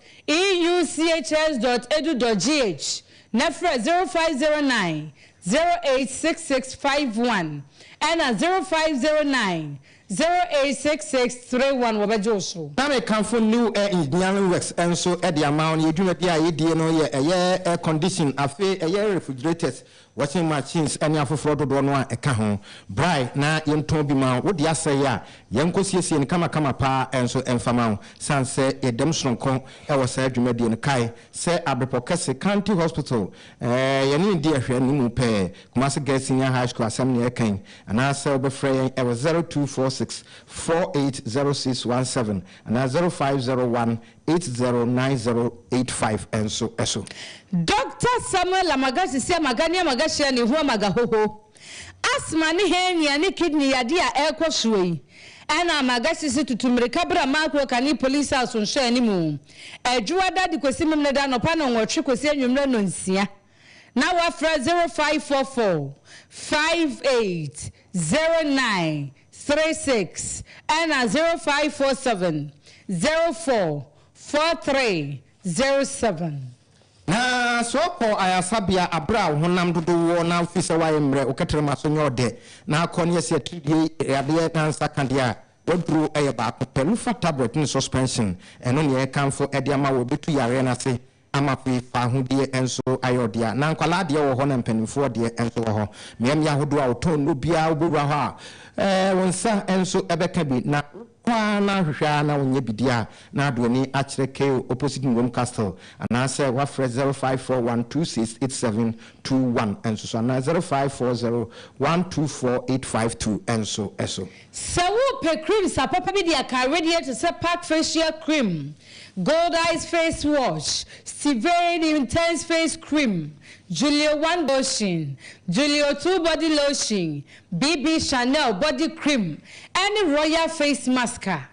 EUCHS.edu.gh, na frɛ zero five zero nine, zero eight six six five one ɛna zero five zero nine, zero eight six six three one wɔbɛgye wo so. Na me kanfo New Air Engineering Works nso de ama wo. Yɛ dwumadi a yɛ die no yɛ ɛyɛ air condition afe ɛyɛ refrigerators Washing machines ne afoforɔ dodoɔ no a ɛka ho. Brae na yɛntɔn bi ma wo. Wo deɛ asɛe a, yɛnkɔsiesie no kamakama pa ara nso mfa ma wo. Sane sɛ yɛdam sononko wɔ saa dwumadie no, kae sɛ Abepɔ Kɛse County Hospital, yɛne no di ahwɛanimu pɛɛ. Kumasi Girls Senior High School asɛm na yɛreka yi. Anaasɛ wobɛfrɛ yɛn wɔ zero two four six four eight zero six one seven anaa zero five zero one eight zero nine zero eight five nso so. Dɔkta Samuel Amagashisi Amagania Amagashia ne Ihu Amagahoho, Asthma ne hernia ne kidney yadeɛ a ɛrekɔ soɔ yi, ɛna Amagashisi tutu mmirika bra Makuro Kane Police House nhwɛanimu, Adwuada de kɔsi Memeneda anɔpa nnɔnwɔtwe kɔsi anwummerɛ nnɔnsia, na wɔafrɛ zero five four four five eight zero nine three six ɛna zero five four seven zero four four three zero seven. Na sɛ ɔkɔ ayarsabea aber a wo honam dodow wɔ na ofi sɛ wɔayɛ mbrɛ wo kɛtrɛma so nyɛ ɔdɛ na akɔ na yɛse atiridie yadeɛ na nsa ka deɛ a, w'aduro yɛ baako pɛ, Lufa tablet ne suspension, ɛno na yɛrekamfo de ama wo, ɛbɛtu yareɛ no ase Amapui faahodie nso ayɛ ɔdea na nkwadaa deɛ wɔ hɔ na mpanimfoɔ deɛ nso wɔ hɔ. Mmeammea ahodoɔ a wɔtɔn nnuro biara wobɛwura hɔ a, eh, wo nsa nso bɛka bi na wokɔ ara na ahwehwɛ ara na wonyɛ bi di a, na ade w'ani akyerɛ Kale opposite Nwoom Castle anaasɛ woafrɛ zero five four one two six eight seven two one nso so anaa zero five four zero one two four eight five two nso so. Sɛ worepɛ creams apapa bi de aka awedeɛ te sɛ Park Facial Cream, Goldeyes Face Wash, Stivane Intense Face Cream, Julio One Lotion, Julio Two Body Lotion, BB Chanel Body Cream, ɛne Royal Face Mask a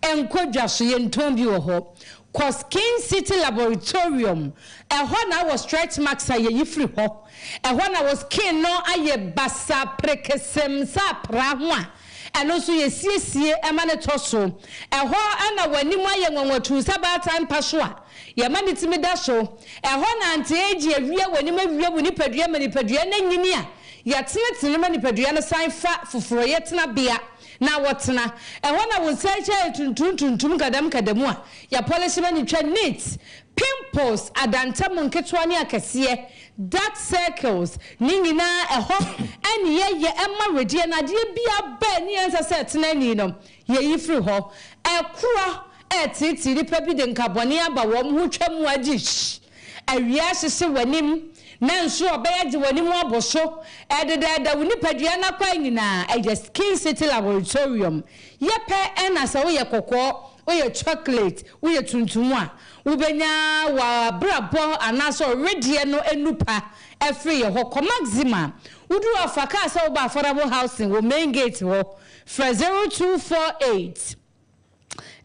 ɛnkɔ dwa so. Yɛntɔn bi wɔ hɔ. Kɔ Skin City Laboratorium, ɛhɔ na wɔ stretch marks a yɛyi firi hɔ. Ɛhɔ na wo skin no ayɛ basaa, perekesem, sɛ apraa ho a Ɛno nso yɛsiesie ma no tɔ so. Ɛhɔ na w'anim ayɛ nwanwa tumm sɛ baatan mpa so a yɛma ne tumi da so. Ɛhɔ na anteɛgye awia w'anim awia wo nipadua ma nipadua no anyini a yɛtenetene ma nipadua no san fa foforoyɛ tenabea na wɔtena. Ɛhɔ na wo nsa akyi ayɛ tuntum tuntum nkadamu nkadamu a yɛpɔlehye ma no twa neat. Pimples, adantamu nketewa ne akɛseɛ, Dark circles ne nyinaa ɛhɔ ɛne yɛyɛ ma wedeɛ no adeɛ biaa bɛ ne ɛnsɛ sɛ ɛtena ani no yɛyi firi hɔ ɛkorɔ ɛɛteetee nipa bi de nkabɔne aba wɔn ho twa mu agyihh awia ahyehye w'anim na nso ɔbɛyɛ de w'anim abɔ so ɛɛdɛdɛɛdɛ wo nipadua no akwan nyinaa ɛyɛ skin city laboratorium yɛpɛ ɛna sɛ woyɛ kɔkɔɔ woyɛ chocolate woyɛ tuntum a Wobenya w'abrabɔ anaasɛ ɔwedeɛ no anu pa afiri yɛ hɔ. Kɔ Maxima. Wodu hɔ a, fa kaa sɛ woba Affordable Housing wɔ Main Gate hɔ. Frɛ 0248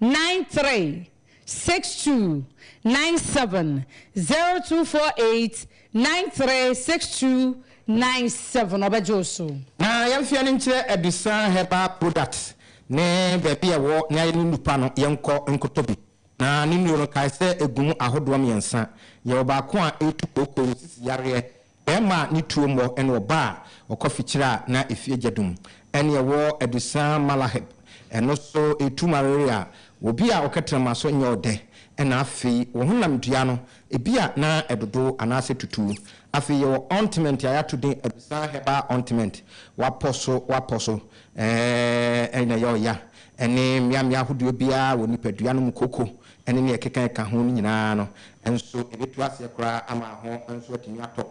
93 62 97, 0248 93 62 97, ɔbɛgye wo so. Ma yɛmfa yɛn ani nkyerɛ Adusan Herbal Products ne baabi a ɛwɔ na yɛde ne nupa no yɛnkɔ nkɔtɔ bi. Na ne nnuro no, kae sɛ ɛgu mu ahodoɔ mmiɛnsa. Yɛwɔ baako a ɛtu kooko, sisi yareɛ, barima a ne tuo mmɔ, ɛna ɔbaa a ɔkɔ fikyire a na efie gya dum. Ɛne ɛwɔ adusan malahib, ɛno nso ɛtu malaria wɔ obi a ɔkɛtrɛma so nyɛ ɔdɛ. Ɛna afei wɔ honam dua no, ebi a na ɛdodo anaasɛ tutu. Afei yɛwɔ ointment a yɛato din adusan herbal ointment, wapɔ so wapɔ so, Ɛɛɛɛɛ na ɛyɛ ɔya ne mmeammea ahodoɔ biara wɔ nipadua no mu kooko ne nea ɛkeka ka ho no nyinaa no nso ɛbɛtu aseɛ koraa ama ho nso atumi atɔ.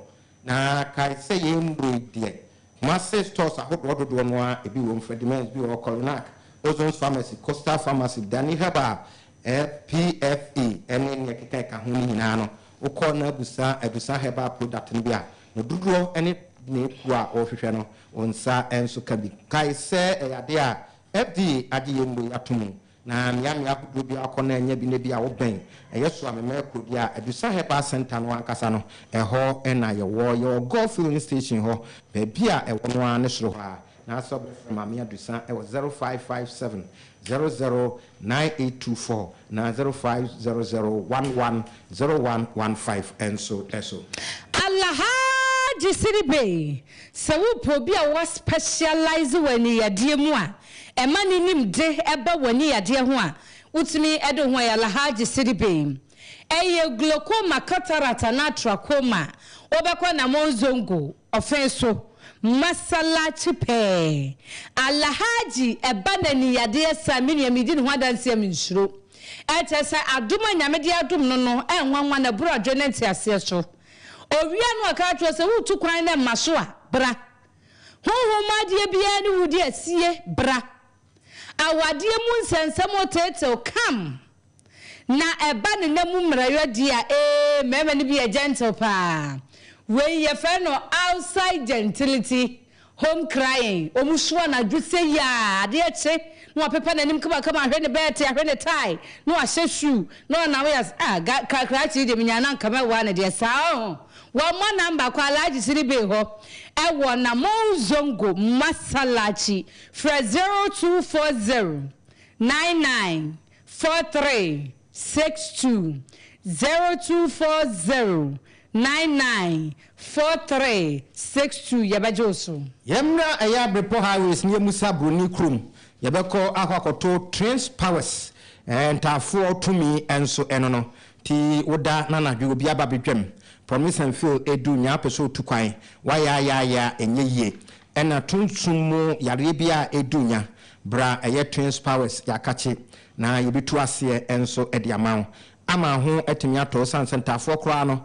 Na kae sɛ yei mmoroi deɛ, Kumase stores ahodoɔ dodoɔ no ara ebi wɔ mu, Freddie Mens bi wɔ hɔ, Coronac, Ozon's Pharmacy, Coastal Pharmacy, Dani Herbal, PFE ne nea ɛkeka ka ho no nyinaa no Wokɔ na bisa abisa herbal product no bi a, ne dodoɔ ne ne kuo a worehwehwɛ no, wo nsa nso ka bi. Kae sɛ ɛyɛ adeɛ a FDA agye yɛn nnuro yi ato mu, na mmea mmea ahodoɔ biara wokɔ na anya bi na ebia wobɛn ɛyɛ so a memɛɛ kuro bi a Adusa Herbal Centre no ankasa no, ɛhɔ na yɛwɔ. Yɛwɔ Gulf Filling Station hɔ, baabi a ɛwɔ no ara ne soro hɔ ara. Anaasɛ wobɛfrɛ Maame Adusa wɔ zero five five seven, zero zero Nine eight two four na zero five zero zero one one zero one one five nso so. Alhaji Sidi Bey, Sɛ worepɛ obi a wa specialise wɔ aniyadeɛ mu a ɛma ne nim de ba w'aniyadeɛ ho a, wotumi de wo ho ayɛ Alhaji Sidi Bey. Ɛyɛ glaucoma, cataract anaa trachoma a, wobɛkɔ Namong Zongo Ɔfe so, Masallaci pɛɛ. Alhaji ɛba na ni yadeɛ saa me nua medi ne ho adanseɛ me nsuro. Ɛkyerɛ sɛ adom a Nyame de adom no no ɛnwanwa na ɛboro adwene ne nteaseɛ so. Owie a na ɔka ato hɔ sɛ woretu kwan na ɛmma so a, bra. Honhom mu adeɛ biara ne wodi asie, bra. Awadeɛ mu nsɛnsɛm oteetew, come. Na ɛba ne nna mu mmerɛyɔ di a, ee, mmarima no bi yɛ gentle paa. Wei, yɛfrɛ no outside gentility, home crying. Wɔsu anadwo sei a, adeɛ kye, na wapepa n'anim kamakama, ahwɛ ne bɛɛte, ahwɛ ne tae, na wahyɛ shoe, na ɔnam wo yɛ, ah, ga, ka, krakye yi deɛ, menyaa no a anka mɛwoa no deɛ, saa ɔho. Wɔmmɔ number kɔ Alhaji Sidi Bey hɔ wɔ Namou Zongo, Masallaci, frɛ 0240 99. four three six two zero two four zero nine nine four three six two yɛbɛgye wo so. Yɛmmra ɛyɛ abrepɔ highways ne yɛmmusa broni kurom, yɛbɛkɔ akɔ akɔto trains powers ɛɛ ntaafoɔ tumi ɛnso ɛno no nti woda na anadwo obi aba abɛdwam promise and fail ɛdu nyaa wopɛ sɛ otu kwan wayaayaaya ɛnyɛ yie Ɛna tuntum mu yareɛ bi a ɛdu nya berɛ a ɛyɛ twins powers yɛakakye na yɛbɛtu aseɛ nso de ama wo ama ho atumi atɔ wo sane sɛ ntaafoɔ koraa no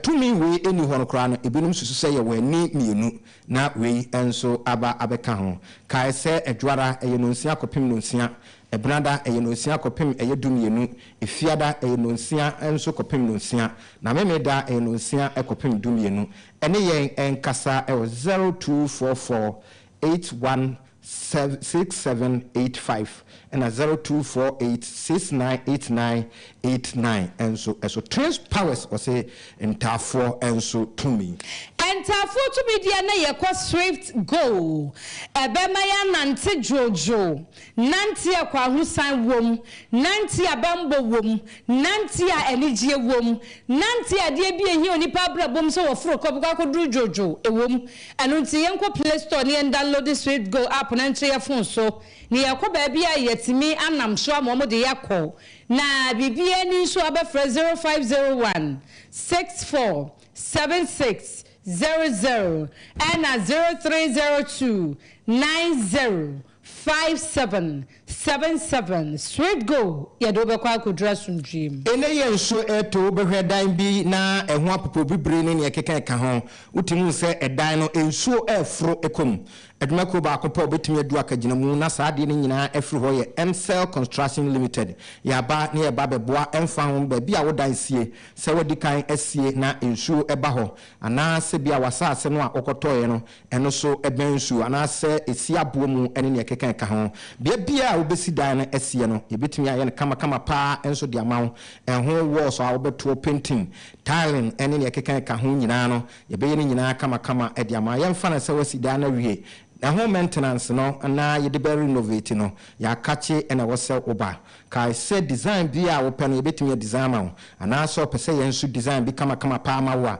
tumi wei nni hɔ no koraa no ebinom susu sɛ yɛwɔ ani mmienu na wei nso aba abɛka ho. Kae sɛ Adwara ɛyɛ nonsia kɔpem nonsia, Ɛbenada ɛyɛ nonsia kɔpem ɛyɛ du mmienu, Efiada ɛyɛ nonsia nso kɔpem nonsia na Memeeda ɛyɛ nonsia kɔpem du mmienu. Ɛne yɛn nkasa wɔ zero two four four eight one seven six seven eight five ɛna zero two four eight six nine eight nine eight nine nso so. Twins powers wɔse ntaafoɔ nso tumi. Ntaafoɔ tumi deɛ na yɛkɔ swift go ɛbɛma yɛanante dwoodwoo Nante a kwahosan wom, nante a bammɔ wom, nante a anigyeɛ wom, nante a adeɛ bi a ɛhia onipa abrabɔ mu sɛ wɔforo kɔ bɛkɔ akɔduru dwodwo wom. Ɛno nti yɛnkɔ play store ne yɛndanlode Swiftgo app na nkyɛ yɛn fon so na yɛkɔ baabi a yɛatumi anam so ama wɔde yɛn akɔ na biribiara nni nso a bɛfrɛ 0501 64 76 00 ɛna 0302 90 Five seven seven seven straight go yɛde wo bɛkɔ akɔduru asomdwoeɛ mu. Ene yɛ nsuo eto wo behwɛ dan bi na eho apopo bibire ne nea ekeka eka ho wotumi hu sɛ edan no nsuo reforo kɔ mu adwuma kuo baako pɛ a obetumi adu akagyinamu na saa adeɛ no nyinaa afiri hɔ yɛ Mcell construction limited yɛaba na yɛreba abɛboa ɛmfa ho baabi a wo dan sie sɛ wadi kan asie na nsuo ba hɔ anaa sɛ bia wasaase no a wokɔtɔeɛ no Ɛno so bɛn nsu anaasɛ esi aboɔ mu ne nea ɛkeka ka ho. Bea biara a wobesi dan no asie no, yebetumi ayɛ no kamakama paa nso de ama wo. Ɛho wɔɔls a wobɛtoɔ pentin, tailen ne nea ɛkeka ka ho nyinaa no, yɛbɛyɛ ne nyinaa kamakama de ama. Yɛmfa no sɛ woasi dan no awie. Ɛho mɛntenanse no na yɛde bɛrenovati no, yɛakakye na ɛwɔ sɛ woba. Kae sɛ disaen biara a wopɛ no, yebetumi adisaen ama wo. Anaasɛ wopɛ sɛ yɛn nso disaen bi kamakama paa ma wo a,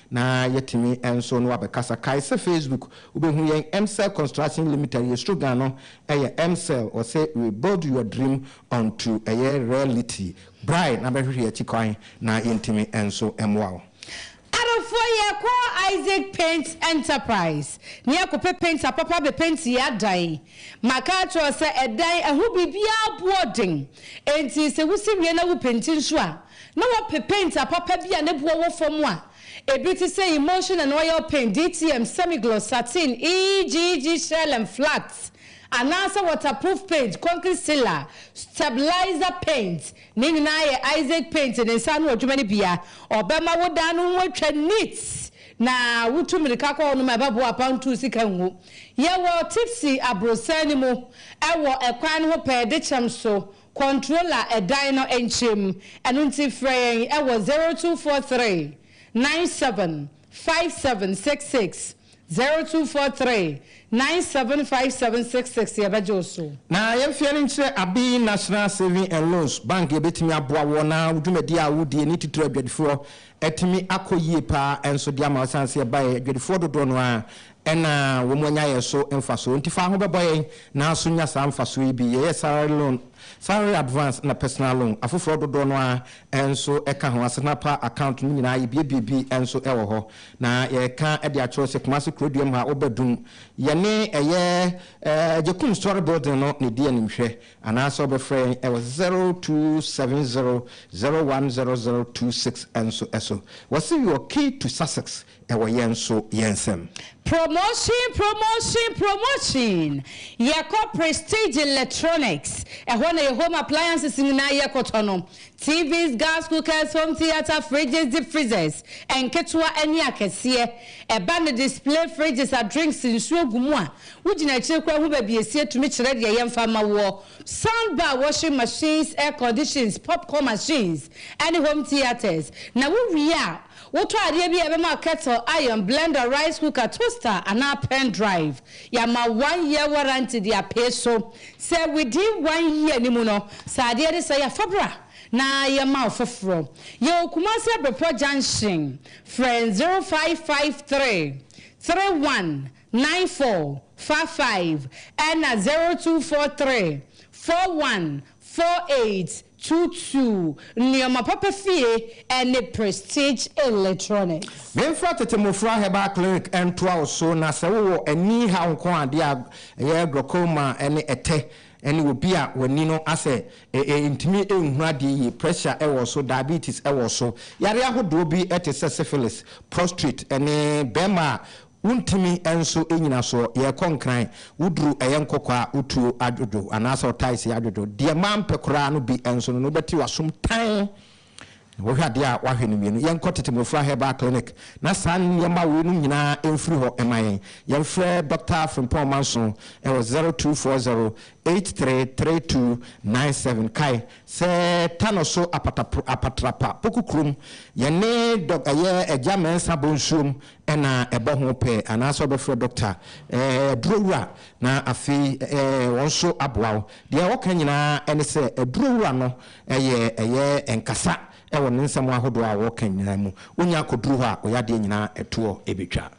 Na yɛtumi nso na wabɛkasa. Kae sɛ Facebook wobɛhu yɛn Mcell Construction Limited yɛ slogan no yɛ Mcell wɔse we build your dream onto ɛyɛ reality. Brae na bɛhwehwɛ yɛn akyi kwan na yɛntumi nso mmoa wo. Adɔfoɔ yɛkɔ Isaac Paint Enterprise na yɛkɔpɛ paint apapa abɛpenti yɛn adan. Maka akyerɛ wo sɛ ɛdan ɛho biribiara boɔ den enti sɛ wosi wie na wopenti nso a na wɔpɛ paint apapa bi a ne boɔ wɔ fam a ebi te sɛ emulsion and oil paint, DTM, semi-gloss, sateen, EGG, shell and flat, anaasɛ waterproof paint, concrete sealer, stabilizer paint, ne nyinaa yɛ Isaac Paint ne nsa ano adwuma no bi a ɔbɛma wo dan no ho atwa neat na wotu mmirika kɔ hɔnom a ɛbɛboa apam ntuu sika ngu. Yɛwɔ Tipsy abrossan no mu wɔ kwan no ho pɛɛ de kyɛm so Kɔntrola ɛdan no nkyɛm, ɛno nti frɛ yɛn wɔ zero two four three nine seven five seven six six, zero two four three nine seven five seven six six, yɛbɛgye wo so. Na yɛn mfeɛ no nkyerɛ abe National Saving and Loans Bank yɛbɛtumi aboa woɔ na wo dwumadie a wo die ne titire adwadifoɔ atumi akɔ yie paa nso de ama wo ɛsiane sɛ yɛbaeɛ adwadifoɔ dodoɔ no ara Ɛna wɔn anya yɛn so mfasoɔ. Nti fa ho bɛbɔ yɛn nanso nya saa mfasoɔ yi bi. Yɛyɛ salary loan, salary advance na personal loan. Afoforɔ dodoɔ no ara nso ka ho. Asetena pa account no nyinaa yɛbuebue bi nso wɔ hɔ. Na yɛka de akyerɛw sɛ Kumasi Kuroduam ha wo bɛdum. Yɛne ɛyɛ Agyekum Story Building no na ɛdi anim hwɛ. Anaasɛ wo bɛfrɛ yɛn wɔ 0270 010026 nso so. Wɔse wɔ key to success Ɛwɔ yɛn nso yɛn nsam. Promotion promotion promotion Yɛkɔ Prestige Electronics Ɛhɔ na yɛ home appliances nyinaa yɛ kɔtɔ no TVs, gas cookers, home theatre, fridges, deep freezers Nketewa ne akɛseɛ Ɛba no display fridges a drinks nsuo gu mu a Wo gyina akyire koraa hu baabi ɛsie tumi kyerɛ deɛ yɛmfa mma woɔ Sound bar, washing machines, air conditions, popcorn machines ne home theatres Na wo wie a Wotɔ adeɛ bi a ɛbɛma kettle, iron, blender, rice cooker, toaster anaa pen drive. Yɛama one year warranty de apee so. Sɛ within one year no mu no sɛ adeɛ no sɛe a fa bra na yɛma wo foforɔ. Yɛwɔ Kumasi Abrepɔ junction. Frɛ zero five five three, three one nine four, four five ɛna zero two four three, four one 4-8, Tuutuu, Nneɛma Papa Fie, ne Prestige Electronics. Memfa tete mmofra herbal clinic ntoa wo so, na sɛ wowɔ ani haw nko a, adeɛ a ɛyɛ glaucoma ne ɛtɛ ne obi a w'ani no asɛ, ɛntumi nhunu adeɛ yie, pressure wɔ so, diabetes wɔ so, yareɛ ahodoɔ bi te sɛ syphilis, prostrate, ne barima a Wontumi nso nnyina soɔ. Yɛrekɔ Nkran, woduru ɛyɛ nkɔkɔɔ a, wo tuo adwodwo anaasɛ wo taese adwodwo. Deɛ mampɛ koraa no bi nso no na wobɛte w'asom tann. Wohwɛ adeɛ a, woahwɛ no mmienu. Yɛnkɔ Tete Mmofra Herbal Clinic na saa nneɛma wei nom nyinaa mfiri hɔ mma yɛn. Yɛmfrɛ Dɔkta Frimpong Manso wɔ zero two four zero eight three three two nine seven. Kae sɛ Tano so Apatapr Apatrapa, Poku kurom. Yɛne Dɔk ɛyɛ Agya Mensah bɔ nsuom na ɛbɔ ho pɛɛ anaasɛ wobɛfrɛ dɔkta, ɛɛ, adurowura, na afei, ɛɛ, wɔn nso aboa wo. Deɛ wɔka nyinaa ne sɛ adurowura no yɛ, ɛyɛ nkasa wɔ ne nsɛm ahodoɔ a wɔka nyinaa mu. Wonya kɔduru hɔ a, wo yadeɛ nyinaa toɔ bɛtwa.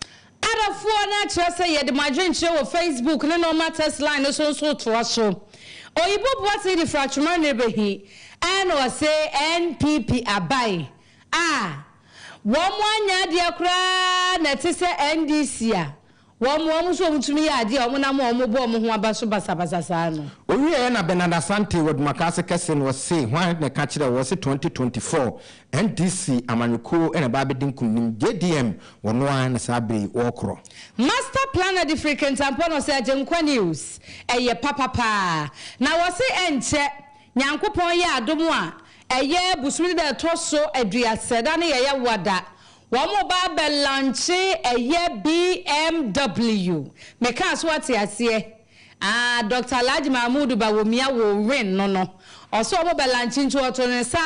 Adafoɔ no akyerɛ sɛ yɛde mo adwenkyerɛ wɔ Facebook ne normal text line no so nso toa so. Oyibo boa sɛ yɛde firi atwoma nnɛrebahi, ɛna ɔse NPP abae. A, wɔanyɛ adeɛ koraa na ɛte sɛ NDC a wɔboa wɔn so wɔtumi yɛ adeɛ a wɔnam a wɔbɔ wɔn ho aba so basabasa saa no. Ɔwieeɛ na Bernard Asante wɔ Dumakaase kɛse no ɔse hwan na ɛka kyerɛɛ wɔ se 2024 NDC amanyɔkuo na ɛba abɛdi nkunim, JDM wɔno ara na saa berɛ yi wɔɔkorɔ. Master planner de firi Kintampo na ɔse Agyenkwa news ɛyɛ papa paa na wɔse ɛnkyɛ Nyankopɔn yɛ adom a Ɛyɛ bosome da a ɛtɔ so aduasa da ne yɛyɛ wada wɔn ba abɛ lankye ɛyɛ BMW me kaa so wate aseɛ aah Doctor Alhaji Mahmood Bawumia wo win no no ɔse wɔn bɛ lankye nti ɔto ne nsa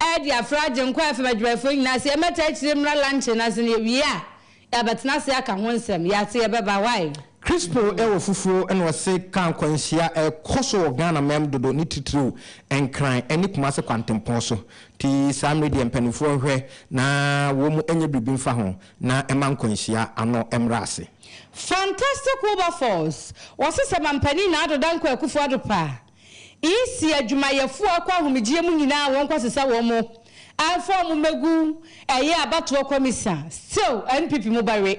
ɛde afra Agyenkwa FM adwumayɛfoɔ nyinaa sɛ yɛmɛtaa akyire mmra lankye no ase na yɛwie a Yɛabɛtena ase aka ho nsɛm. Yɛate yɛbɛba wai. Crispo wɔ fufuo na ɔse car nkwanhyia ɛkɔ so wɔ Ghana mɛm dodo ne titiriw Nkran ne Kumase kwantempɔn so nti saa mmere deɛ mpaninfoɔ nhwɛ na wɔn nyɛ biribi mfa ho na ɛma nkwanhyia ano mmra ase. Fantastic Wilberforce, wɔse sɛ mampanin na Ado Dankwa Akufo-Addo pɛ a. Nsi adwumayɛfoɔ akɔ ahomegyeɛ mu nyinaa a wɔn nkɔ asesa wɔn mo amfa wɔn mo mmɛgu ɛyɛ abatoɔ kɔmisa still NPP mo ba we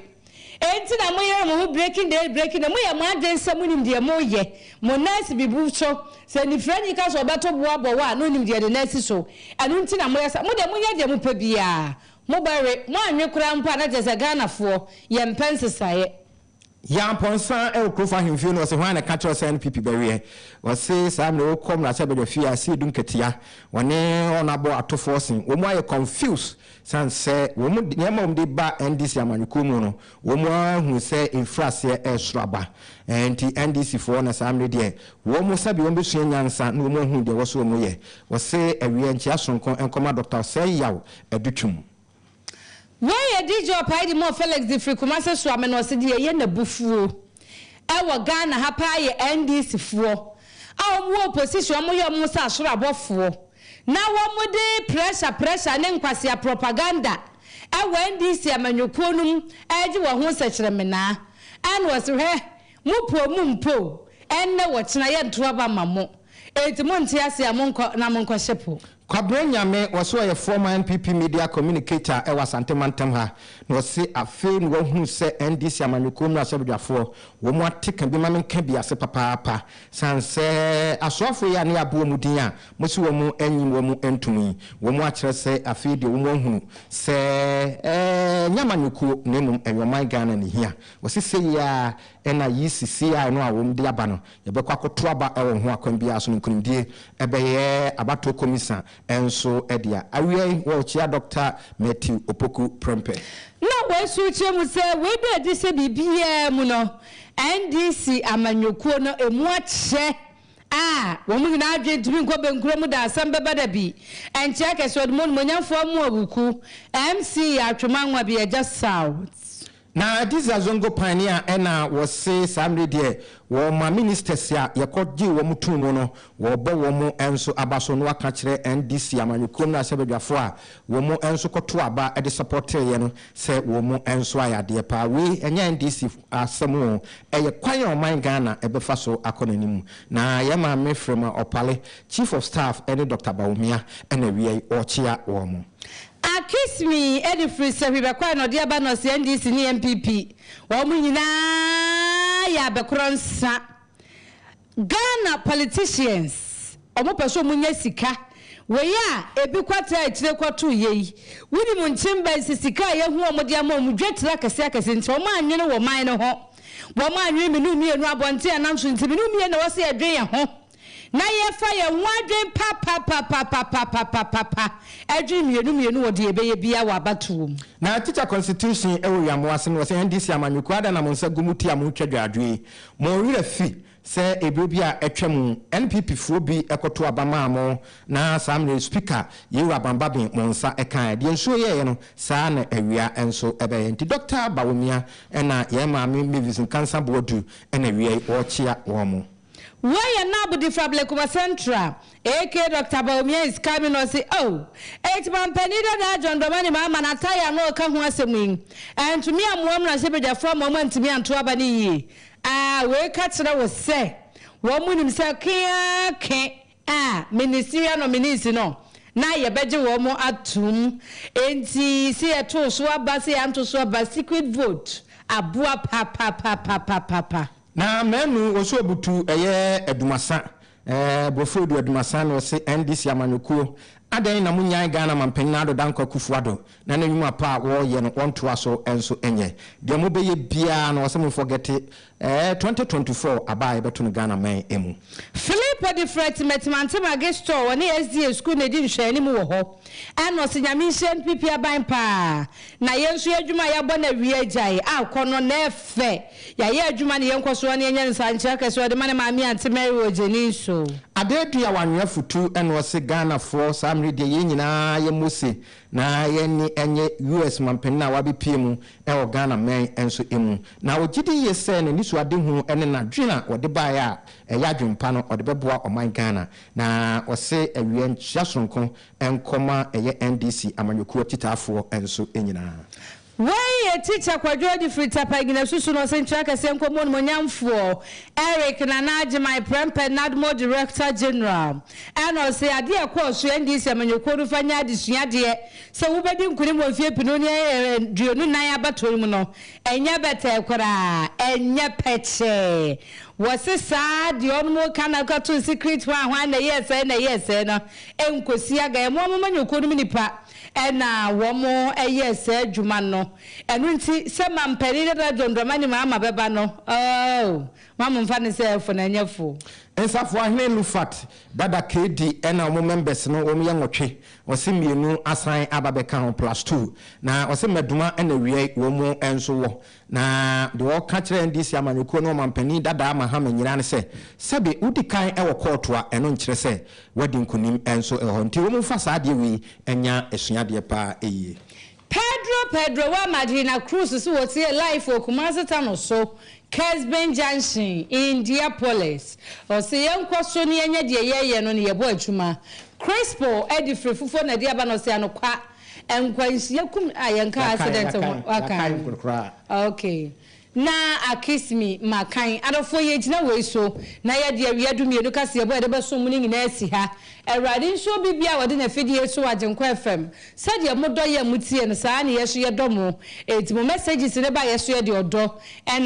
enti na mo yere mo ho breaking the age breaking the mo yɛ mo adwen sɛ mo nim deɛ mo yɛ mo nan asi bibu so sɛ nifranyi ka sɛ ɔbɛto bo abɔ wo a na onim deɛ ne nan asi so ɛno nti na mo yɛ saa mo deɛ mo nyɛ deɛ mo pɛ biaa mo ba we mo anwe koraa mpo a na kyerɛ sɛ Ghanafoɔ yɛ mpɛ nsesaeɛ Yampɔnsa ɛwɔ Krofo Ahemfie no ɔse hwan na ɛka kyerɛ wo sɛ NPP bɛweɛ? Ɔse saa mmerɛ wokɔ mmarahyɛbadwa fie a ɛse yɛdu nkatia, wɔne wɔn abɔ atofoɔ se wɔn ayɛ confused sane sɛ wɔn deɛ ɛma wɔn de ba NDC amanyɔkuo mu no wɔn ara hunu sɛ ɛfiri aseɛ ɛresoro aba nti NDC foɔ na saa mmerɛ deɛ wɔn sɛbe wɔn bɛsua nyansa na wɔn ahunu deɛ ɛwɔ sɛ wɔn yɛ. Ɔse awie nkyea sononko nkɔma Doctor Osei Yaw Adutwum. Wei yɛ DJ Opaidi Moore Felix de firi Kumase soa me na ɔse deɛ ɛyɛ no abufuo wɔ Ghana ha paa yɛ NDC foɔ a wɔn wɔ opposition a wɔn yɛ wɔn ho sɛ asoro abɔfoɔ na wɔn de pressure pressure ne nkwasea propaganda wɔ NDC amanyɔkuo no mu regye wɔn ho nsɛkyerɛmenaa ɛna ɔse hwɛ Mo poɔ mu mpo o, ɛnnɛ wɔ kyena yɛnto aba mma mo, enti monte ase a monkɔ na monkɔhye po. Kwabre Nyame, ɔse ɔyɛ former NPP media communicator ɛwɔ Asante mantam ha, na ɔse afei na wahunu sɛ NDC amanyɔkuo mmarahyɛbadwafoɔ wɔ mu ateka bi ma menka bi ase papaapa, sane sɛ asoafoɔ yi a ne yɛabɔ wɔ mu din a mose wɔ mo anyi wɔ mo antum yi, wɔ mo akyerɛ sɛ afei deɛ wɔ mo ahunu sɛ ɛɛ nyɛ amanyɔkuo na mmom ɛyɛ ɔman Ghana na ɛhia. Wɔse sei ara na ECCI no a wɔde aba no, yɛbɛkɔ akɔto aba wɔ ho akwan biara so no nkunimdie ɛbɛyɛ abatoɔ komisa nso dea. Awia yi wɔrekyea Dɔkta Matthew Opoku Prempeh. Na wei nso wokyerɛ mu sɛ wei da adi sɛ biribiara mu no NDC amanyɔkuo no ɛmu akyɛ a wɔn nyinaa adwene ntumi nkɔ bɛnkuro mu da asɛm bɛba da bi nkyɛɛ kɛse ɔde mu onimuonyamfoɔ Amoa Wuku MC yɛ atwema nwa bi agya South. Na Adisa Zongo Pane a ɛna wɔse saa mmere deɛ wɔma ministers a yɛkɔ gyee wɔn too mu no wɔbɔ wɔn nso aba so no aka akyerɛ NDC amanyɔkuo mmarahyɛbadwafoɔ a wɔn nso kɔtoo aba de supportee yɛ no sɛ wɔn nso ayɛ adeɛ paa. Wei ɛnyɛ NDC asɛm oo, ɛyɛ kwan a ɔman Ghana ɛbɛfa so akɔ n'anim. Na yɛn maame Frema Opale Chief of Staff ne Doctor Bawumia na wia yi ɔrekyea wɔn. Akismi de firi Sahwiba kɔɛ na ɔde aba Nɔse NDC ne NPP wɔn nyinaa yɛ abɛkorɔ nsa Ghana politicians wɔn pɛ sɛ wɔn nya sika wei a ebi kɔ tra akyire kɔ to yei wo nim nkyem bɛn sɛ sika a yɛhu wɔn de ama wɔn dwa tira akɛseɛ akɛseɛ nti wɔn anwene wɔn man no ho wɔn anwene menu mmienu abɔnten anam so nti menu mmienu na ɛwɔ sɛ yɛdwen yɛn ho. na yɛfa yɛn ho adwen papapapapapapapa adwen mmienu mmienu wɔ deɛ yɛbɛyɛ biara wɔ abatoɔ mu. Na teacher constitution ɛwɔ wia mo ase no wɔ sɛ NDC amanyɔ kuo adan na mo nsa gu mo ti a mo twa dwaadwɛ yi mo werɛ fi sɛ ɛberɛ bi a atwa mu NPP foɔ bi kɔto aba maa mo na saa mmerɛ yi speaker Yero Abanbaben mo nsa kaeɛ deɛ nsuo yɛeɛ no saa na awia nso bɛyɛ nti Doctor Bawumia ɛna yɛn maame Mavis Nkansah Boadu ɛna awia yi wɔrekyea wɔn. Wei yɛ Nab de fa Blekuma Central AK Doctor Bawumia is coming ɔse oh Eti mampanin dadaa John Dramani Mahama na Atai a na ɔka ho asɛm yi antumi ammoa mmarahyɛbadwafoɔ ama wɔn antumi anto aba no yie aa wei ka kyerɛ wo sɛ wɔn nim sɛ ke aa ke aa minisiriya no minisi no na yɛbɛgye wɔn atom enti se yɛtoo so aba se yɛanto so aba secret vote aboa papapapapapa. Na manu wɔ so obutu ɛyɛ adumasa eh brofo edu adumasa na ɔse NDC amanyɔkuo adɛn na mo nyan Ghana manpanyin Addo Dankwa Kufu Addo na n'anwuma pa a wɔɔyɛ no wɔntoa so nso nyɛ deɛ mo bɛyɛ biaa no ɔse mo nfɔgɛte eh 2024 aba a yɛbɛto no Ghana man mu. Philip Odifrɛ te Matimantam Magistrate wɔ ne SDA Sukuu na edi nhwɛanim wɔ hɔ ɛna ɔse Nyame nhyira NPP aban paa na yɛn nso yɛn adwuma a yɛabɔ no awia agyae akɔ no na ɛfɛ. Yɛayɛ adwuma ne yɛnkɔ soɔ ne yɛnyɛ nsankyerɛ kɛseɛ ɔde ma ne maame ante Mary wɔ Jenin so. Adadu a wanwe afutu na ɔse Ghanafoɔ saa mmere deɛ yɛn nyinaa yɛ Mose na yɛn ani nye US manpanin a wabepie mu wɔ Ghana mɛn nso mu. Na ɔgye di yie sɛ n'anisoadehunu ne n'adwene a ɔde baeɛ a ɛyɛ adwene pa no ɔde bɛboa ɔman Ghana. Na ɔse awia nkyea sononko nkɔ ma ɛyɛ NDC amanyɔkuo akyitaafoɔ nso nyinaa. Wei yɛ Tikya Kwadwo Adifiri Tapa Agyinasu so na Ɔsɛnkyerɛ Akɛseɛ Nkɔmmɔ Onimuonyamfoɔ Eric Nana Agyemang Prempeh Nadmo Director General ɛna ɔse adeɛ a ɛkɔɔ so NDC amanyɔkuo no fa nyɛ adesuadeɛ sɛ wobɛdi nkunim wɔ mfeɛ pinu ne aduonu nnan abatoɔ yi mu no ɛnyɛ bɛtɛɛ koraa ɛnyɛ pɛkyɛɛ wɔse saa deɛ ɔnom reka no akɔto nsikrit hwan hwan na ɛyɛɛ sɛɛ na ɛyɛɛ sɛɛ no ɛnkɔsi agaɛ mo amamanyɔkuo no mu nnipa Ɛna wɔyɛɛ saa adwuma no. Ɛno nti, sɛ mampanin no bɛba John Dramani Mahama bɛba no, oh, mma mo mfa no sɛ ɛfo na ɛnyɛ fo. Nsafoahene Lufat Bada KD ɛna wɔn members no wɔn yɛ nwɔtwe, ɔse mmienu asan aba bɛka ho plus two, na ɔse Maduma ɛna Wiai wɔn nso wɔ. Na deɛ ɔka kyerɛɛ NDC amanyɔkuo no ɔmanpanin dadaa Mahama Nyira ne sɛ, sɛbe wodi kan wɔ kɔɔto a, ɛno nkyerɛ sɛ woadi nkunim nso wɔ hɔ. Nti wɔn mfa saa adeɛ wei nya asuadeɛ paa yie. Pedro Pedro wa Madrina Cruz se wɔtie live wɔ Kumasi Tano so, Kesben Junction, Indiapolis. Ɔse yɛnkɔ so na yɛnyɛ deɛ yɛyɛ no na yɛbɔ adwuma. Crispo adi firi fufuo na ɛde aba na ɔse anokwa Nkwanhyia kum a yɛn kaa accident ho. Yɛakan yɛakan yɛakan koraa. Okay na akis me ma kan adɔfoɔ yɛ gyina wei so na yɛ de awia du mmienu kaseɛbɔ a yɛde bɛsom mu no nyinaa asi ha awurade nso obi bia a wɔde n'afidie so agyenkɔ fm sɛdeɛ mo dɔ yɛ mo tie no saa ne yɛ so yɛdɔ mo eti mo messages ne ba yɛ so yɛ de ɔdɔ ɛna